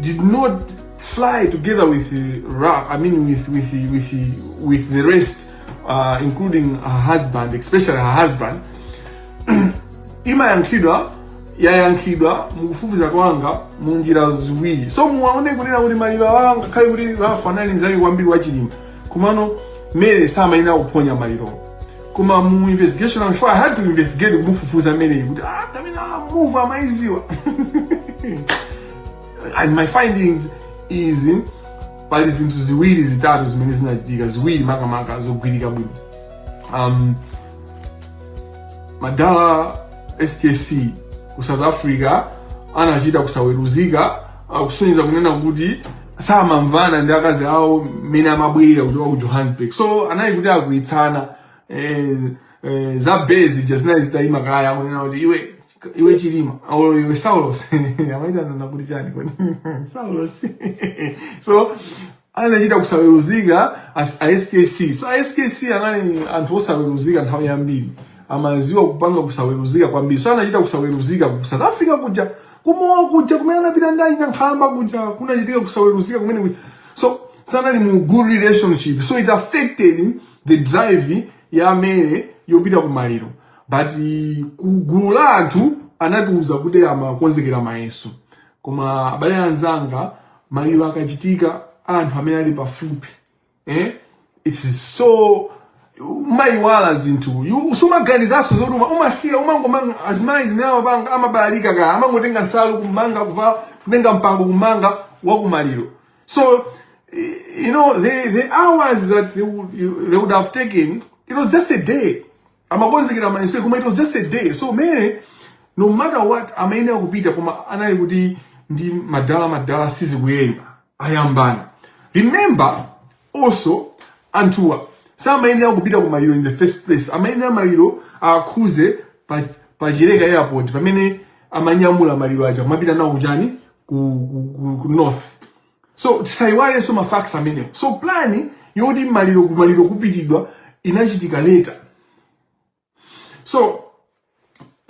did not fly together with the Ralph, I mean with with the, with the, with the rest, uh, including her husband, especially her husband. imayankhidwa yayankhidwa mukufufuza kwanga mu njira ziwiri so muwaone kunena kuti maliro awa ngakhale kuti Ralph anali nzake kwambiri wa Chilima komano Mary samayenera kuphonya malirowa koma mu investigation before I had to investigate kumufufuza mary kuti kapena move amaiziwa and my findings is pali zinthu ziwiri zitatu zimene zinachitika ziwiri makamaka zogwirika bwino um, madala skc ku south africa anachita kusaweruzika kusonyeza kunena kuti samamvana ndi akazi awo mmene amabwera kuchoka ku johannesburg so anali kuti akwiyitsana eh, eh, za bezi ja zinali zitayima kaya akunena kuti iwe iwe chilima olo iwe saulos amaitanana kuti chani kodi saulos so anachita kusaweruzika as- a skc so a skc anali anthu osaweruzika nthawi yambiri amaziwa kupanga kusaweruzika kwambiri so anachita kusaweruzika ku south africa kuja kumowa kuja kumene anapita ndi ayina nkhalamba kuja kunachitika kusaweruzika kumene kuja so sanali mu good relationship so it affected the drive ya mary yopita ku maliro but ku gulu la anthu anatiuza kuti amakonzekera mayeso koma abale anzanga maliro akachitika anthu amene ali pafupi eh? it is so umayiwala zinthu You- sumaganizanso zoti uma- umasiya umangomanga azimayi zimene amapanga amabalalika kaya amangotenga nsalu kumanga kuvala kutenga mpango kumanga wakumaliro so eh, you know the, the hours that they would, you, they would have taken it was just a day amakonzekera mayeso koma it was just a day so mary no matter what amayenera kupita koma anali kuti ndi madala madala sizikuyenda ayambana remember also anthuwa samayenera kupita ku maliro in the first place amayenera maliro akhuze pa, pa chileka airport pamene amanyamula maliro aja kumapita nawo kuchani ku, ku, ku, ku north so tisayiwalenso ma facts amenewo so plan yoti maliro kumaliro kupitidwa inachitika later so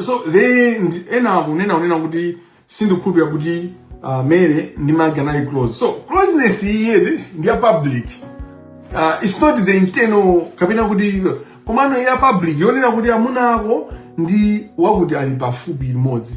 so they ndi- ena akunena kunena kuti sindikhulupira kuti uh, mary ndi magi anali close so closeness iyi ndi ya public uh, it's not the internal kapena kuti komano ya public yonena kuti amuna ako ndi wakuti ali pafupi limodzi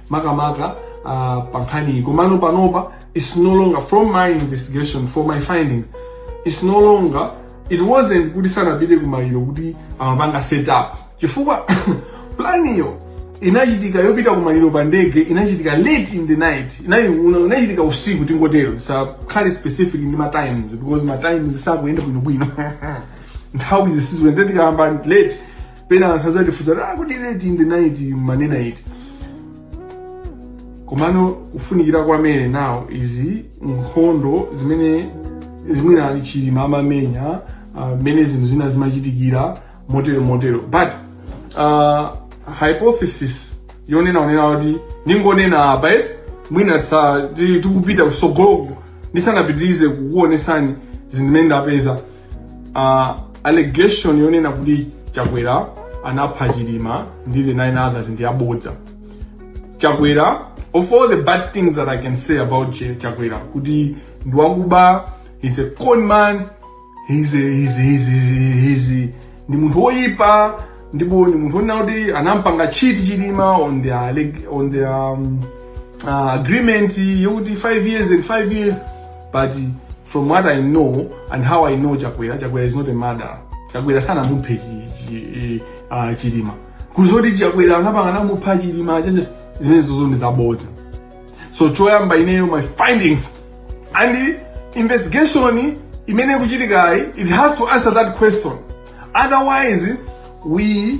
makamaka uh, pa nkhaniyi komano panopa its no longer from my investigation for my findings its no longer it wasn't kuti sanapite kumaliro kuti amapanga set up chifukwa planiyo inachitika yopita kumaliro pa ndege inachitika late in the night inayi una- inachitika usiku tingotero sakhale specific ndi ma times because ma times sakuyenda bwinobwino nthawizi sizikuyenda tikayamba late pena anthu azatifunsa kuti akuti late in the night manena iti komano kufunikira kwa Mary now izi nkhondo zimene zimwina chilima amamenya ah, mmene zinthu zina zimachitikira motero motero but uh, hypothesis yonena onena kuti ningonena apa eti mwina tisa- ti- tikupita kusogoloko ndisanapitirize kukuonesani zinthu zimene ndapeza uh, allegation yonena kuti chakwera anapha chilima ndi the nine others ndi yabodza chakwera of all the bad things that i can say about Ch- chakwera kuti ndi wakuba he's a con man he's a, he's, he's, he's, he's, ndi munthu woyipa ndipo ndi munthu onena kuti anampanga cheat chilima on their, leg- on their um, uh, agreement yokuti 5 years and 5 years but From what I know and how I know Chakwera, Chakwera is not a murderer. Chakwera sanamuphe ah, Chilima. Kuzoti Chakwera anapanga namupha Chilima chenje zimene zozo ndi zabodza. So choyamba ineyo my findings and the investigation imene ikuchitikayi it has to answer that question. Otherwise we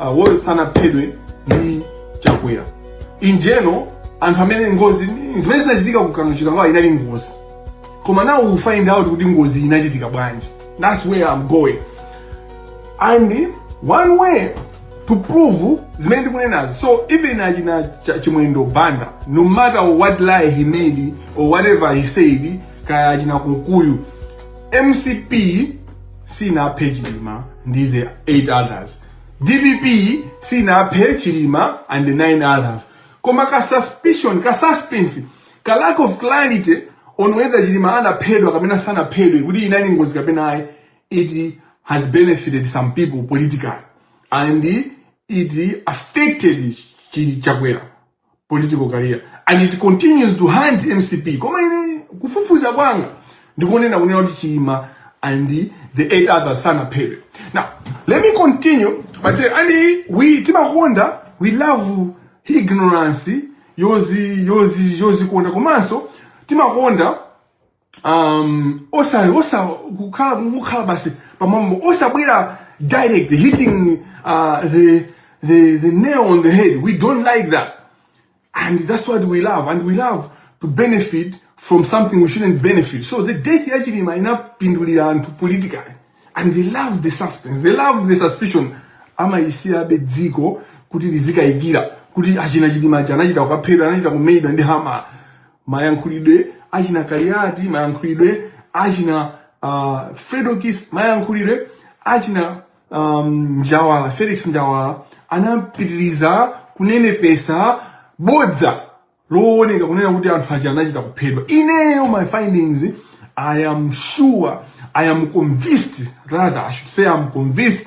uh, was sanaphedwe ndi chakwera in general anthu amene ngozi zimene zinachitika ku kano chikangawa inali ngozi koma now we find out kuti ngozi inachitika bwanji that's where i'm going and one way to prove zimene ndikunenazi so even achina Cha- chimwendo banda no matter what lie he made or whatever he said kaya achina kunkuyu mcp sinaphe chilima ndi the 8 others dpp sinaphe chilima and the 9 others koma ka suspicion ka suspense ka lack of clarity on whether chilima anaphedwa kapena sanaphedwe kuti inali ngozi kapena ayi it has benefited some people politically and it affected Chi- chakwera political career and it continues to haunt mcp koma ine kufufuza kwanga ndikunena kunena kuti chilima and the eight others sanaphedwe now let me continue but uh, and we timakonda we love ignorance yozi yozi yozikonda komanso timakonda um osali osa kukhala kukhala basi pamwamba osabwera direct hitting uh, the the the nail on the head we don't like that and that's what we love and we love to benefit from something we shouldn't benefit so the death ya chilima inapindulira anthu politically and they love the suspense they love the suspicion amayisiyabe dziko kuti lizikayikira kuti achina chilima achi anachita kukaphedwa anachita kumenyedwa ndi hamala mayankhulidwe achina Kaliati mayankhulidwe achina uh, Fredokiss mayankhulidwe achina um, Njawala Felix Njawala anapitiriza kunenepesa bodza looneka kunena kuti anthu aja anachita kuphedwa ineyo my findings i am sure i am convinced rather i should say i am convinced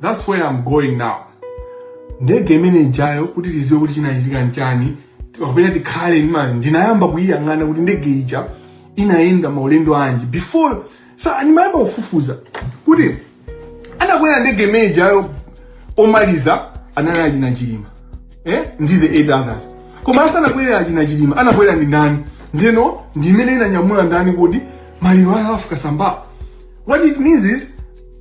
That's where I'm going now. Ndege imene ijayo kuti tiziwe kuti chinachitika nchani kapena tikhale ndi ndinayamba kuyiyang'ana kuti ndege ija inayenda maulendo anji before so ndimayamba kufufuza kuti anakwera ndege imene ijayo omaliza anali achina Chilima eh? ndi the eight others koma asanakwere achina Chilima anakwera ndi ndani ndiyeno ndi imene inanyamula ndani kodi maliro a Ralph Kasambala what it means is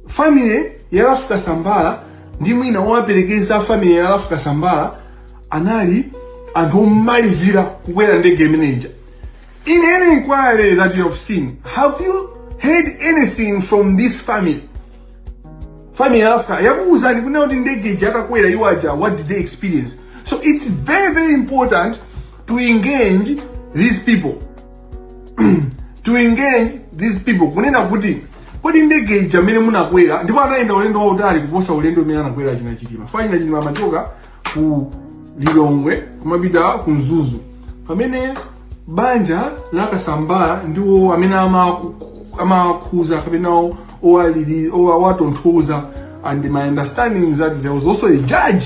family ya Ralph Kasambala ndi mwina owaperekeza family ya Ralph Kasambala anali anthu omalizira kukwera ndege imeneja in any inquiry that you have seen have you heard anything from this family family ya Ralph Ka- yakuwuzani kunena kuti ndege ija atakwera iwo aja what did they experience so it's very very important to engage these people to engage these people kunena kuti kodi ndege ija mmene munakwera ndipo anayenda ulendo wautali kuposa ulendo umene anakwera achina Chilima chifukwa achina Chilima amachoka ku Lilongwe kumapita ku Mzuzu pamene banja la Kasambala ndiwo amene amaku- amakhuza kapena o- owalili- owa- owatonthoza and my understanding is that there was also a judge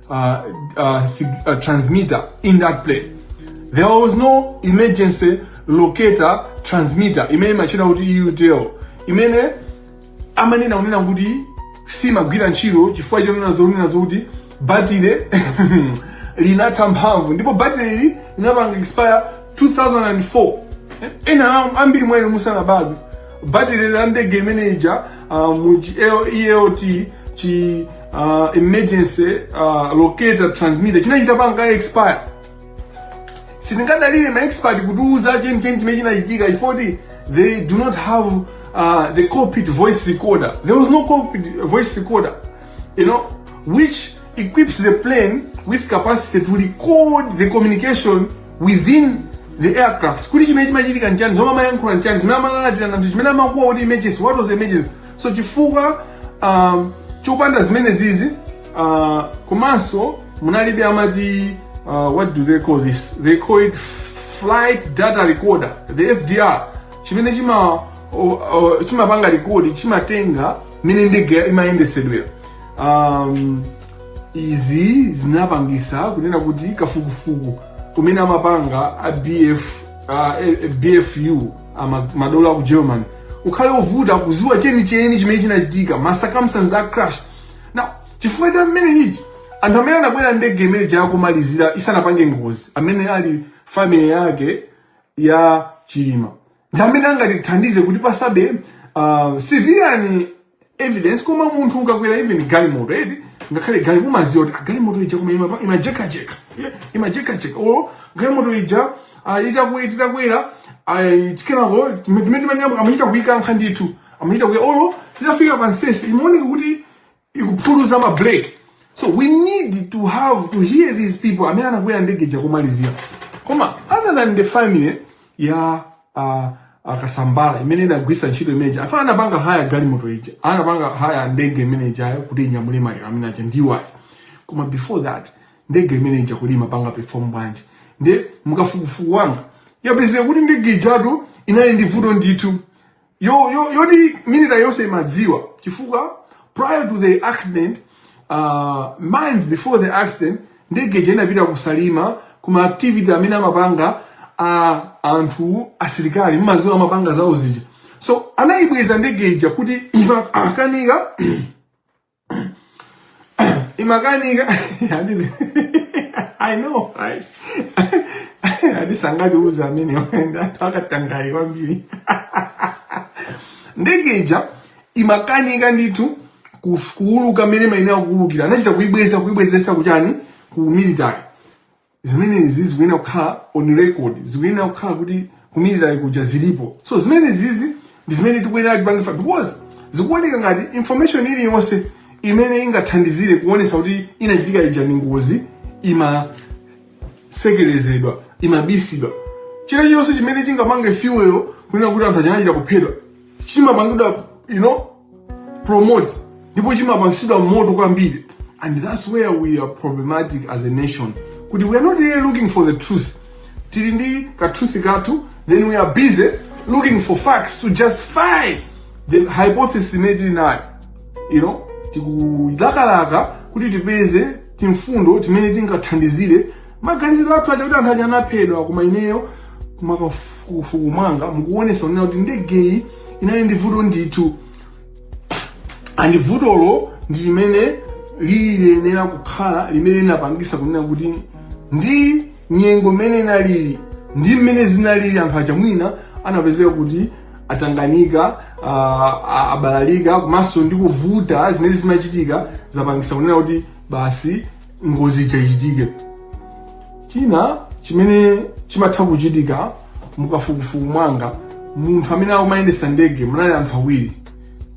uh, uh, uh, transmitter in that plane. There was no emergency locator transmitter imene imatchedwa kuti ELT imene amanena kunena kuti siimagwira ntchito chifukwa chonena zonena zokuti batire linatha mphamvu ndipo batire ili linapanga expire 2004 ena ambiri mwina musanabadwe batire la ndege imene ija uh, mu ELT chi uh, emergency uh, locator transmitter chinachita kupanga expire sitingadalire ma expert kutiuza chenicheni chimene chinachitika chifoti they do not have uh, the cockpit voice recorder there was no cockpit voice recorder you know which equips the plane with capacity to record the communication within the aircraft kuti chimene chimachitika nchani zomwe amayankhula nchani zimene amalalatira nchani chimene amakuwa kuti emergency what was the emergency so chifukwa uh, chopanda zimenezizi uh, komanso munalibe amati uh, what do they call this they call it flight data recorder the fdr chimene chima chimapanga rekodi chimatenga mene ndege imayendesedwera um, izi zinapangisa kunena kuti kafukufuku amene amapanga a bf uh, bfu madolo aku germany ukhale ovuta kuziwa chenicheni chimene chinachitika ma circumstances a crash now chifukwa cha mmene ichi anthu amene anakwera ndege imene ija kumalizira isanapange ngozi amene ali family yake ya chilima ndi amene angatithandize kuti pasabe uh, civilian evidence koma munthu ukakwera even galimoto eti ngakhale gali mumaziwa kuti ah, galimoto ija koma ima- imajekajeka Yeah, imajekajeka or galimoto ija ah, itaku- titakwera ah, tikenako timetimanyamba amachita kuikankha ndithu amachita kuika- olo titafika pa ntsetse imaoneka kuti ikuphuluza ma brake so we need to have to hear these people amene anakwera ndege ija komalizira koma other than the family ya uh, a kasambara imene inagwisa ntchito imeneja afuna anapanga haya galimoto ija anapanga haya ndege imene ijayo kuti inyamule maliro amene aja ndi awa koma before that ndege imene ija kodi imapanga perform bwanji ndi mukafukufuku wanga yapezeka kuti ndege ijatu inali ndi vuto ndithu yo yo yoti military yonse imadziwa chifukwa prior to the accident uh, months before the accident ndege ija inapita ku salima kuma activity amene amapanga a anthu asilikali mmaziwa amapanga zawo zija so anayibweza ndege ija kuti imakanika imakanika i know right andisangaliuza amene akatangayi kwambiri ndege ija imakanika ndithu kuuluka mmene imayenera kuulukira anachita kuibweza kuibwezesa kuchani ku military zimenezizi zikuyenera kukhala on record zikuyenera kukhala kuti ku military kuja zilipo so zimenezizi ndi zimene tikuyenera tipange fa because zikuoneka ngati information iliyonse imene ingathandizire kuonesa kuti inachitika ija ndi ngozi imasekelezedwa imabisidwa chilichonse chimene chingapange fuel kunena kuti anthu aja anachita kuphedwa chimapangidwa you know promote ndipo chimapangitsidwa moto kwambiri and that's where we are problematic as a nation kuti we are not really looking for the truth tili ndi katruth kathu then we are busy looking for facts to justify the hypothesis imene tili nayo you know tikulakalaka kuti tipeze timfundo timene tingathandizire maganizidwe athu achakuti anthu aja anaphedwa koma ineyo mukafukufuku mwanga mukuonesa kunena kuti ndegeyi inali ndi vuto ndithu and vutolo ndi limene liyenera kukhala limene linapangisa kunena kuti ndi nyengo mmene inalili ndi mmene zinalili anthu aja mwina anapezeka kuti atanganika ah, ah, abalalika komanso ndi kuvuta zimene zinachitika zapangisa kunena kuti basi ngozi ija ichitike china chimene chimatha kuchitika mukafukufuku mwanga munthu amene amayendesa ndege munali anthu awiri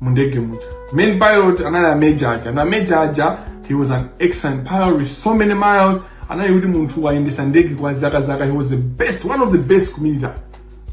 mu ndege muja main pilot anali a major aja and major aja he was an excellent pilot with so many miles anali kuti munthu wayendesa ndege kwa zaka zaka he was the best one of the best ku military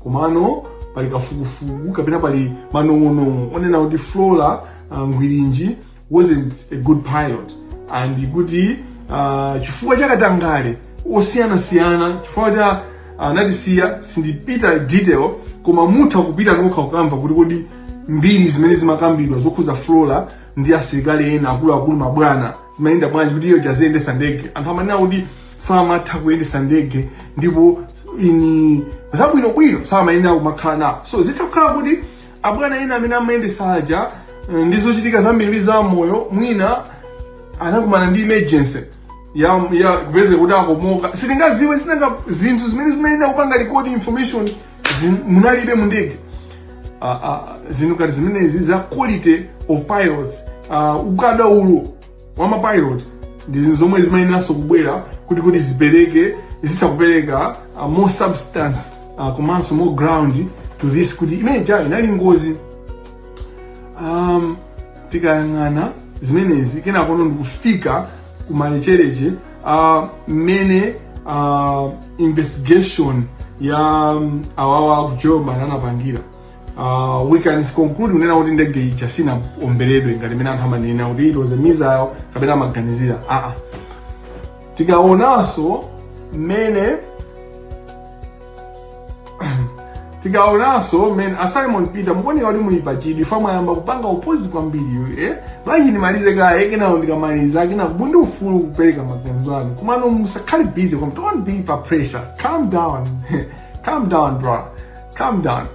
komano pali kafukufuku kapena pali manong'onong'o onena kuti flora uh, ngwirinji wasn't a good pilot and kuti uh, chifukwa cha katangale osiyanasiyana chifukwa cha anatisiya uh, sindipita detail koma mutha kupita nokha kukamva kuti kodi mbiri zimene zimakambidwa zokhuza flora ndi asilikali ena akuluakulu mabwana zimayenda bwanji kuti iye uja aziyendesa ndege anthu amanena kuti samatha kuyendesa ndege ndipo mwa zabwinobwino samayenera kumakhala nawo so zitha kukhala kuti abwana ena amene amayendesa aja eh, ndi zochitika zambiri za moyo mwina anakumana ndi emergency ya ya kupezeka kuti akomoka sitingaziwe sinanga zinthu zimene zimayenera kupanga record information zin- munalibe mu ndege Ah, ah, zinthu ngati zimenezi za quality of pilots ah, ukadaulo wa mapilot ndi zinthu zomwe zimayeneranso kubwera kuti kuti zipereke zitha kupereka uh, more substance uh, komanso more ground to this kuti imene ijayo inali ngozi um, tikayang'ana zimenezi kenakono ndikufika kumalechereche uh, mmene uh, investigation ya um, awawa aku german anapangira Uh, we can conclude kunena kuti ndege ija sinaomberedwe ngati mmene anthu amanena kuti it was a missile kapena amaganizira aa ah, ah. tikaonanso mmene tikaonanso mmene ah simon peter mukuoneka kuti muli pachidwi chifukwa mwayamba kupanga oppose kwambiri eh? bwanji ndimalize kaye kenako ndikamaliza kenako muli ndi ufulu kupereka maganizo anu komano musakhale busy don't be pa pressure calm down calm down brother Calm down.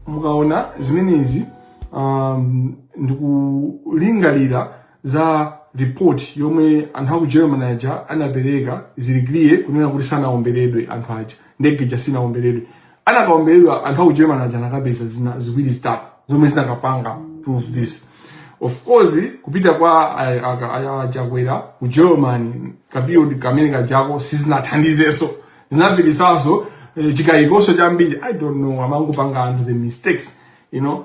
mukaona zimenezi um, ndikulingalira za report yomwe anthu aku german aja anapereka zili clear kunena kuti sanaomberedwe anthu aja ndege ija sinaomberedwe anakaomberedwa anthu aku german aja anakapeza zina ziwiri zitatu zomwe zinakapanga prove this of course kupita kwa ay- aka- aya a Chakwera ku german kaperiod kamene kajako sizinathandizeso zinapititsaso eh, chikayikoso chambiri i don't know amangopanga anthu the mistakes you know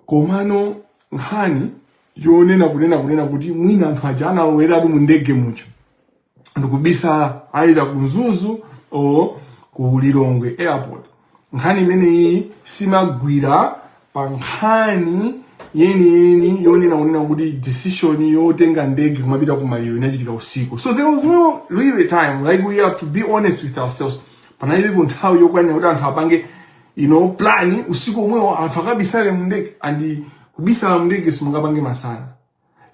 komano nkhani yonena kunena kunena kuti mwina anthu aja analoweratu mu ndege muja ndikubisala either ku mzuzu or ku lilongwe airport nkhani imeneyi simagwira pa nkhani yeniyeni yonena kunena kuti decision yotenga ndege kumapita ku maliro inachitika usiku so there was no really time like we have to be honest with ourselves panalibepo nthawi yokwanira kuti anthu apange you know plan usiku omwewo anthu akabisale mndege and kubisala mndege simungapange masana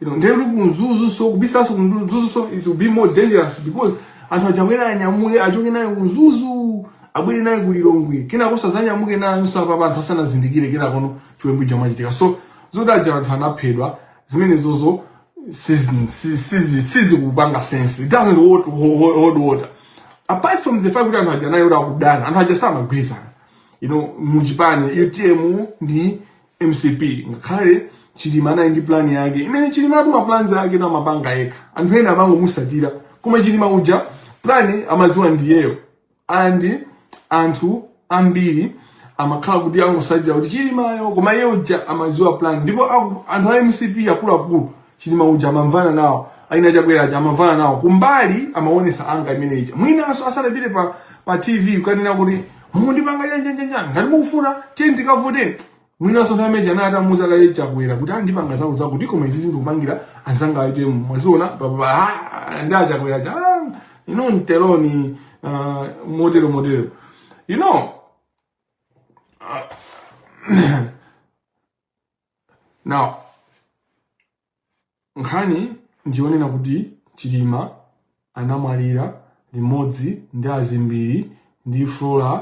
you know ndege ili ku mzuzu so kubisalaso ku mzuzu so it will be more dangerous because anthu aja akwere anyamuke achoke nayo ku mzuzu abwere nayo kulilongwe kenakoso azanyamuke nayo so apa anthu asanazindikire kenakono chiwembu chamachitika so zoti aja anthu anaphedwa zimenezozo sizikupanga sense it doesn't hold, hold, hold water apart from the fact kuti anthu aja nayo kuti amadana anthu aja samagwirizana you know muchipani utm ndi mcp ngakhale chilima naye ndi plani yake imene chilima uja maplans ake amapanga yekha anthu ena amangomusatira koma chilima uja plani amaziwa ndiyeyo and anthu ambiri amakhala kuti angosatira kuti chilimayo koma iye uja amaziwa plan ndipo aku- anthu a mcp akuluakulu chilima uja amamvana nawo ana chakwera aja amamvana nawo kumbali amaonesa ngati mmene ija mwinanso asanapite pa, pa tv kukanena kuti mundipanga nyanjanjanja ngati mukufuna tiye tikavoteni Mwinanso nthawi imene anali atamuuza kale Chakwera kuti andipanga zawo zawo kuti koma izizi ndikupangira anzanga aite mwaziona papa ah, ndi Chakwera uja ah, you know nteloni uh, motero motero you know uh, now Nkhani ndi yonena kuti Chilima anamwalira limodzi ndi a Zimbiri ndi Flora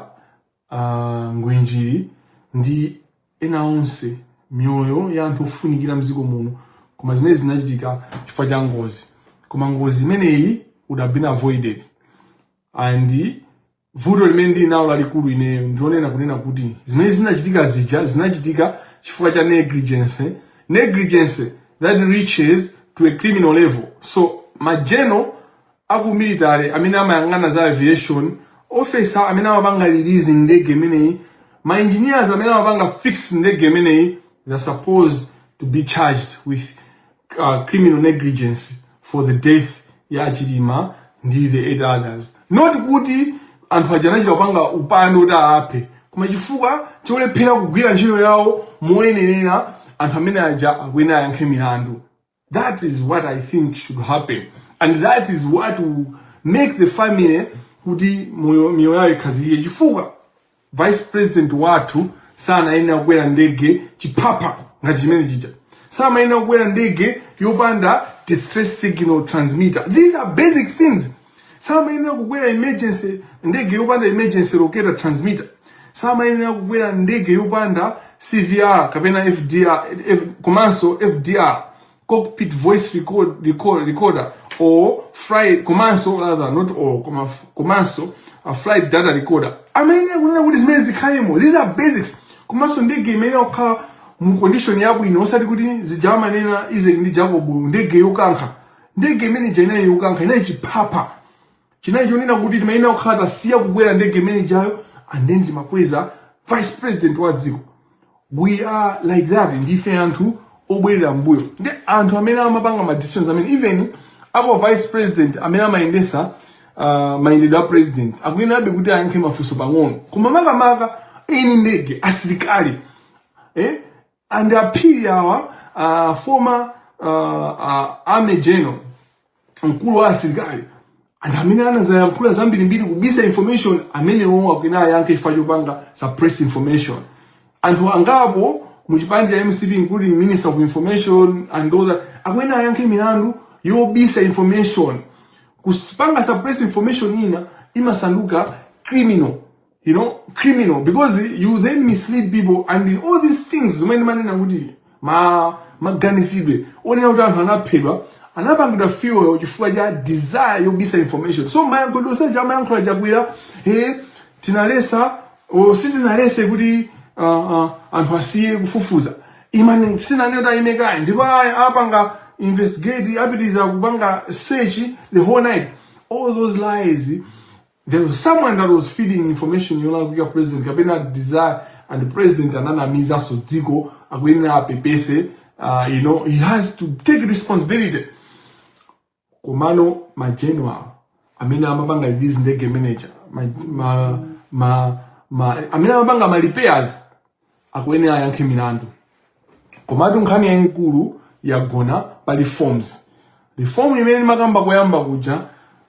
uh, Ngwinjiri ndi ena onse miyoyo ya anthu ofunikira mdziko muno koma zimenezi zinachitika chifukwa cha ngozi koma ngozi imeneyi would have been avoided and vuto limene ndili nalo lalikulu ineyo ndilonena kunena kuti zimene zinachitika zija zinachitika chifukwa cha negligence negligence that reaches to a criminal level so ma general aku military amene amayang'ana za aviation officer amene amapanga release ndege imeneyi ma engineers amene amapanga fix ndege imeneyi they're supposed to be charged with uh, criminal negligence for the death ya ya Chilima ndi the eight others not kuti anthu aja anachita kupanga upandu kuti aphe koma chifukwa cholephera kugwira ntchito yawo moyenerera anthu amene aja akuyenera ayankhe milandu that is what i think should happen and that is what will make the family kuti moyo- miyoyo yawo ikhazikike chifukwa Vice president wathu sanayenera kukwera ndege chiphapha ngati chimene chija samayenera kukwera ndege yopanda distress signal transmitter these are basic things samayenera kukwera emergency ndege yopanda emergency locator transmitter samayenera kukwera ndege yopanda cvr kapena fdr F, komanso fdr cockpit voice record, record, recorder or flight komanso rather not all koma komanso a flight data recorder amayenera kunena kuti zimene zikhalemo these are basics komanso ndege imayenera kukhala mu condition yabwino osati kuti zija amanena Isaac ndi Jacob ndege yokankha ndege imene ija inali yokankha inali chiphapha chinali chonena kuti timayenera kukhala tasiya kukwera ndege imene ijayo and then timakweza vice president wa dziko we are like that ndife anthu obwerera mbuyo ndi anthu amene amapanga ma decisions amene even a kwa vice president amene amayendesa uh, mayendedwe a president akuyenerabe kuti ayankhe mafunso pang'ono koma makamaka eni ndege asilikali eh? and a Phiri awa uh, former uh, uh, army general mkulu wa asilikali and amene anazayankhula zambirimbiri kubisa information amenewo akuyenera ayankhe chifukwa chopanga suppress information anthu angapo mu chipani cha MCP including minister of information and all that akuyenera ayankhe milandu yobisa information kupanga suppress information ina imasanduka criminal you know criminal because you then mislead people and all these things zimene ndimanena kuti ma maganizidwe onena kuti anthu anaphedwa anapangidwa fuel chifukwa cha desire yobisa information so mayankhulidwe onse aja amayankhula chakwera he tinaletsa o sitinaletse kuti uh, uh, anthu asiye kufufuza imani sinanena kuti ayime kaye ndipo aya apanga investigate apitiriza kupanga search the whole night all those lies There was someone that was feeding information yolakwika president kapena desire and president ananamizanso dziko akuyenera apepese uh, you know he has to take responsibility komano ma general amene amapanga release ndege ma major ma, ma, ma, ma, amene amapanga ma repairs akuyenera ayankhe milandu komatu nkhani yayikulu yagona pa reforms reform imene ndimakamba koyamba kuja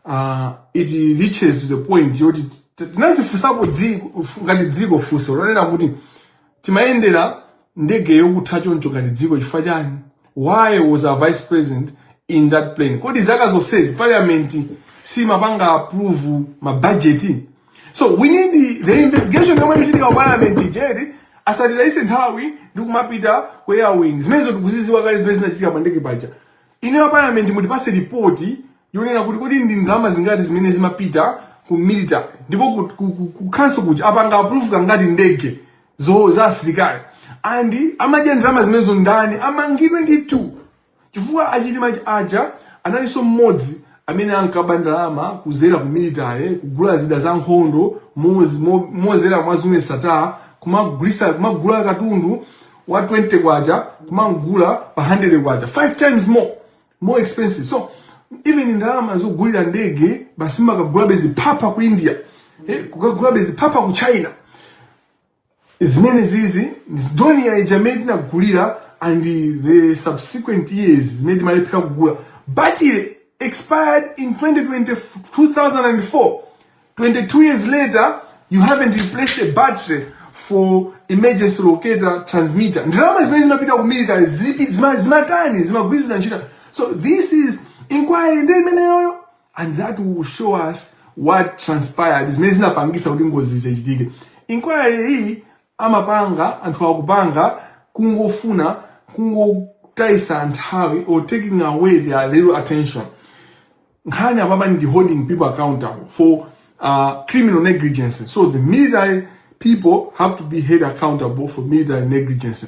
uh, it reaches the point yoti t- tinazifunsapo dziko fu- ngati dziko funso lonena kuti timayendera ndege yokutha choncho ngati dziko chifukwa chani why was our vice president in that plane kodi zaka zonsezi parliament siimapanga approve mabajeti so we need the investigation yomwe ikuchitika ku parliament ija asatitayise nthawi ndi kumapita ku air wing zimenezo tikuziziwa kale zimene zinachitika pa ndege paja inu a parliament mutipase ripoti yonena kuti kodi ndi ndalama zingati zimene zimapita ku military ndipo ku, ku, ku, ku council kuja apanga approve kangati ndege zo za asilikali and amadya ndalama zimenezo ndani amangidwe nditu chifukwa achilima aja analinso mmodzi amene ankaba ndalama kuzera ku military kugula zida za nkhondo moz- mo- mozera mwa Zuneth Sattar kumagulisa kumagula katundu wa 20 kwacha kumamgula pa 100 kwacha 5 times more more expensive so even ndalama zogulira ndege basi kukagulabe ziphapha ku india eh, kukagulabe ziphapha ku china zimenezizi dornier ija imene tinagulira and the subsequent years zimene timalephera kugula battery expired in 2020, 2004 22 years later you haven't replaced a battery for emergency locator transmitter ndalama zimene zimapita ku military zipi- zima- zimatani zimagwirisidwa ntchito so this is inquiry ndi imeneyoyo and that will show us what transpired zimene zinapangisa kuti ngozizi zichitike inquiry iyi imene anthu akupanga kungofuna kungotayisa nthawi or taking away their little attention nkhani apapa ndi holding people accountable for uh, criminal negligence so the military people have to be held accountable for military negligence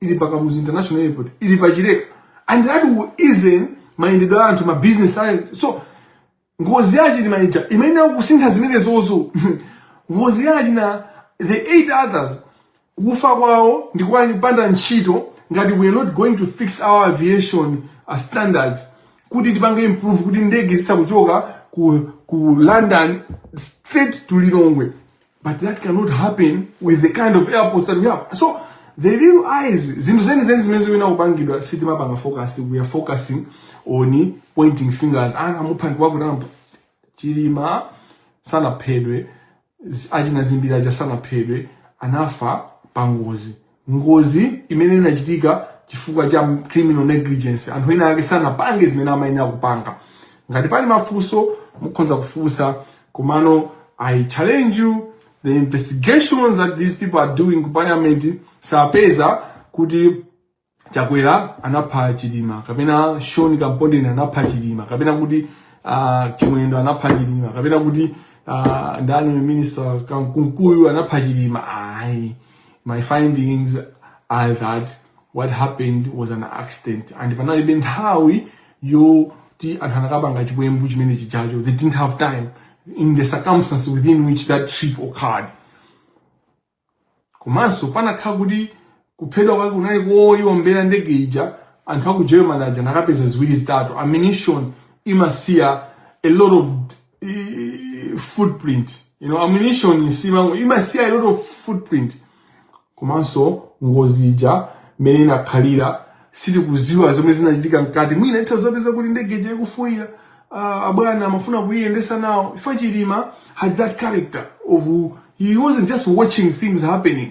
ili pa Kamuzu International Airport, ili pa Chileka and that will ease mayendedwe a anthu ma business ayo so ngozi ya Chilima ija imayenera kusintha zimenezozo ngozi ya achina the eight others kufa kwawo ndi kopanda ntchito ngati we are not going to fix our aviation uh, standards kuti tipange improve kuti ndege ziza kuchoka ku, ku London straight to Lilongwe But that cannot happen with the kind of airports that we have. So the real issues, zinthu zeni zeni zimene zikuyenera kupangidwa sitimapanga focus, we are focusing on pointing fingers. Anamupha ndi wakuti anamupha. Chilima sanaphedwe, z- achina zimbiri aja sanaphedwe, anafa pangozi. ngozi imene inachitika chifukwa cha criminal negligence anthu ena ake sanapange zimene amayenera kupanga ngati pali mafunso mukhoza kufunsa komano i challenge you the investigations that these people are doing ku parliament sapeza kuti chakwera anapha chilima kapena shoni kampondeni anapha chilima kapena kuti uh, chimwendo anapha chilima kapena kuti uh, ndani minister kunkuyu anapha chilima ayi my findings are that what happened was an accident and panalibe nthawi yoti anthu anakapanga chiwembu chimene chijacho they didn't have time in the circumstances within which that trip occurred komanso kunakakhala kuti kuphedwa kwake kunali koyombera ndege ija anthu aku german aja anakapeza ziwiri zitatu ammunition imasiya a lot of i- footprint you know ammunition isimango imasiya a lot of footprint komanso ngozi ija mmene inakhalira sitikuziwa zomwe zinachitika mkati mwina atha kuzapeza kuti ndege ija ikuvuta uh, abwana amafuna kuyiyendesa nawo chifukwa chilima had that character of he wasn't just watching things happening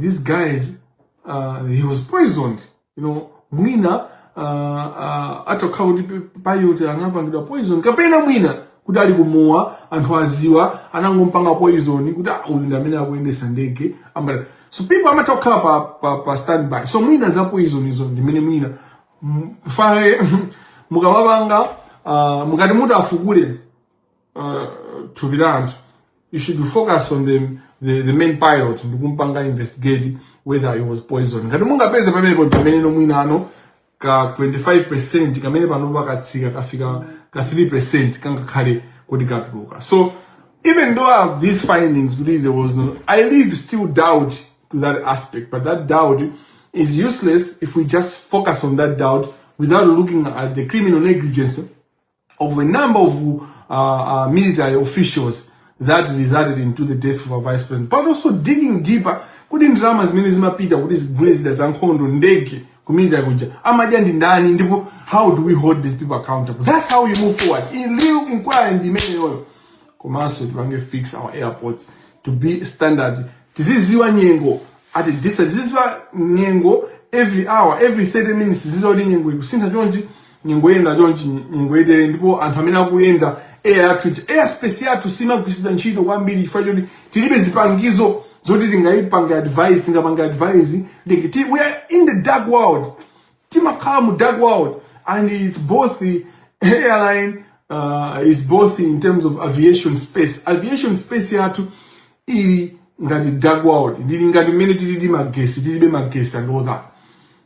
these guys uh, he was poisoned you know mwina uh, uh, atakhala kuti pe- pilot anapangidwa poison kapena mwina kuti ali kumowa anthu aziwa anangompanga poison kuti "Ah, uyu ndi amene akuyendesa ndege Amati- so people amatokhala pa, pa, pa standby so mwina za poison izo ndimene mwina M- faye mukamapanga uh, mukati muti afukule uh, thupi la anthu you should focus on the, the, the main pilot ndikumpanga investigate whether he was poisoned ngati mungapeze pamenepo pamene ndi mwina pano ka 25% kamene pano katsika kafika ka 3% kangakhale kuti katuluka so even though I have these findings kuti there was no I leave still doubt to that aspect but that doubt is useless if we just focus on that doubt without looking at the criminal negligence of a number of uh, uh, military officials that resulted into the death of our vice president but also digging deeper kuti ndalama zimene zimapita kuti zigule zida za nkhondo ndege ku military kuja amadya ndi ndani ndipo how do we hold these people accountable that's how we move forward the real inquiry ndi imeneyoyo komanso tipange fix our airports to be standard tiziziwa nyengo at a distance tiziziwa nyengo every hour every 30 minutes tiziziwa kuti nyengo ikusintha chonchi nyengo yenda chonchi nyengo itere ndipo anthu amene akuyenda air space yathu ija air space yathu simagwiritsidwa ntchito kwambiri chifukwa choti tilibe zipangizo zoti tingayipange advice tingapange advice like ti, we are in the dark world timakhala mu dark world and it's both the airline uh, is both in terms of aviation space aviation space yathu ili ngati dark world ili ngati mmene tilili magesi tilibe magesi and all that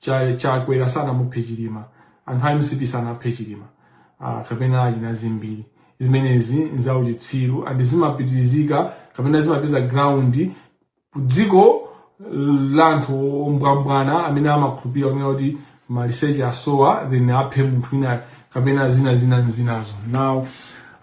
Cha- chakwera sanamuphe chilima anthu a mcp sanaphe chilima ah, kapena achina Zimbiri zimenezi nzauchitsiru and zimapitizika kapena zimapeza ground kudziko la anthu ombwambwana amene amakhulupirira kunena kuti maliseche asowa then aphe munthu wina kapena zina zina zinazo now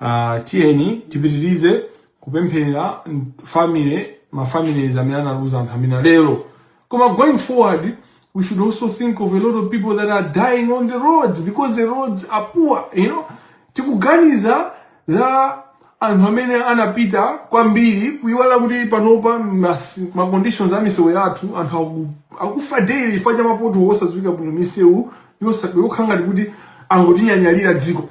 uh, tiyeni tipitirize kupempherera family mafamilies amene analuza anthu amene lero Koma going forward, we should also think of a lot of people that are dying on the roads because the roads are poor, you know. Tikuganiza za anthu amene anapita kwambiri kuiwala kuti panopa mas- ma conditions a misewu yathu anthu aku- akufa daily chifukwa cha ma pothole osadziwika bwino misewu yosa- yokhala ngati kuti angotinyanyalira dziko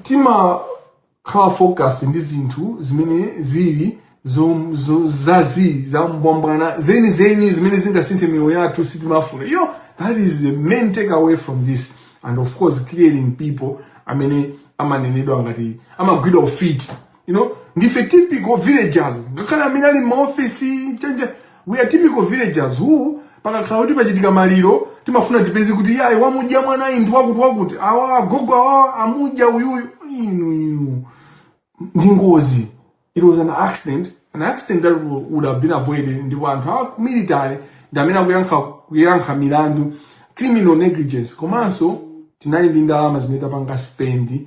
timakhala focus ndi zinthu zimene zili zo- zo- zazii zambwambwana zeni zeni zimene zingasinthe miyoyo yathu sitimazifuna you know that is the main take away from this and of course clearing people amene amanenedwa ngati amagwidwa ufiti you know ndife typical villagers ngakhale amene ali m'ma office change we are typical villagers who pakakhala kuti pachitika maliro timafuna tipeze kuti yayi wamudya mwanayu ndi wakuti wakuti awa agogo awa amudya uyuyu inu inu ndi ngozi it was an accident an accident that wo- would have been avoided ndipo anthu a ku military ndi amene akuyenera kuyankha milandu criminal negligence komanso tinali ndi ndalama zimene tapanga spend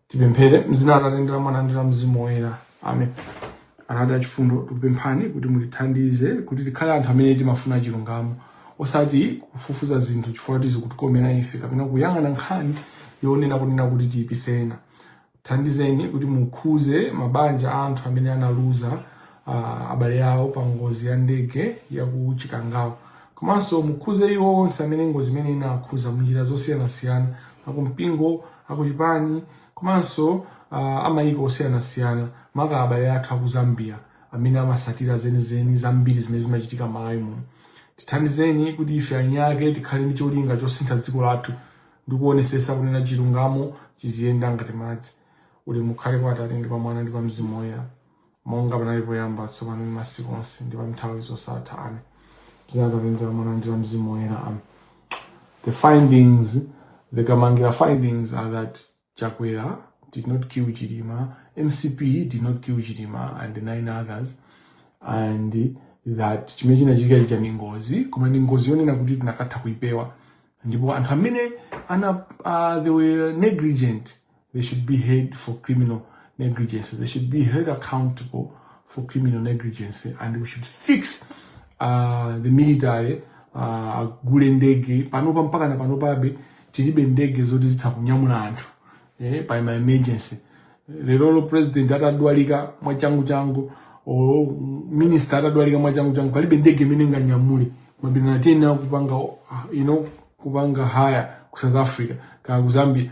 tipemphere m'dzina la atate ndi la mwana ndi la mzimu woyera amen atate achifundo tikupemphani kuti mutithandize kuti tikhale anthu amene timafuna chilungamo osati kufufuza zinthu chifukwa choti zikutikomera ife kapena kuyang'ana nkhani yonena kunena kuti tiyipise ena thandizeni kuti mukhuze mabanja a anthu amene analuza uh, abale awo pa ngozi ya ndege ya ku Chikangawa komanso mukhuze iwo onse amene ngozi imene inakhuza munjira zosiyanasiyana akumpingo akuchipani komanso uh, amayiko osiyanasiyana maka abale athu aku Zambia amene amasatira zenizeni zambiri zimene zimachitika m'Malawi muno tithandizeni kuti ife eni ake tikhale ndi cholinga chosintha dziko lathu ndi kuonesesa kunena chilungamo chiziyenda ngati madzi ulemu ukhale kwa Atate ndi kwa Mwana ndi kwa Mzimu Woyera monga panali poyamba tsopano ndi masiku onse ndi pa nthawi zosatha amen dzina la Atate Mwana ndi la Mzimu Woyera amen the findings the Kamangira findings are that Chakwera did not kill Chilima MCP did not kill Chilima and nine others and that chimene chinachitika chija ndi ngozi koma ndi ngozi yonena kuti tinakatha kuipewa ndipo anthu amene ana uh, they were negligent They should be held for criminal negligence. They should be held accountable for criminal negligence. And we should fix uh, the military uh, agule ndege panopa mpaka na panopabe tilibe ndege zoti zitha kunyamula anthu eh, pa ma emergency lerolo president atadwalika mwachangu changu o minister atadwalika mwachangu changu palibe ndege imene inganyamule mwina tiyenera kupanga uh, you know, kupanga hire ku south africa kaya ku zambia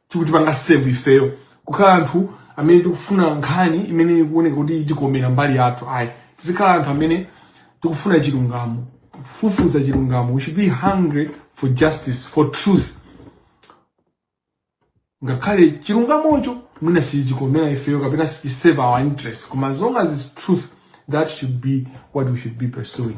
chikutipanga serve ifeyo kukhala anthu amene tikufuna nkhani imene ikuoneka kuti itikomera mbali yathu ayi tizikhala anthu amene tikufuna chilungamo kufufuza chilungamo we should be hungry for justice for truth ngakhale chilungamocho mwina sichikomera ifeyo kapena sichiserve our interest koma as long as it's truth that should be what we should be pursuing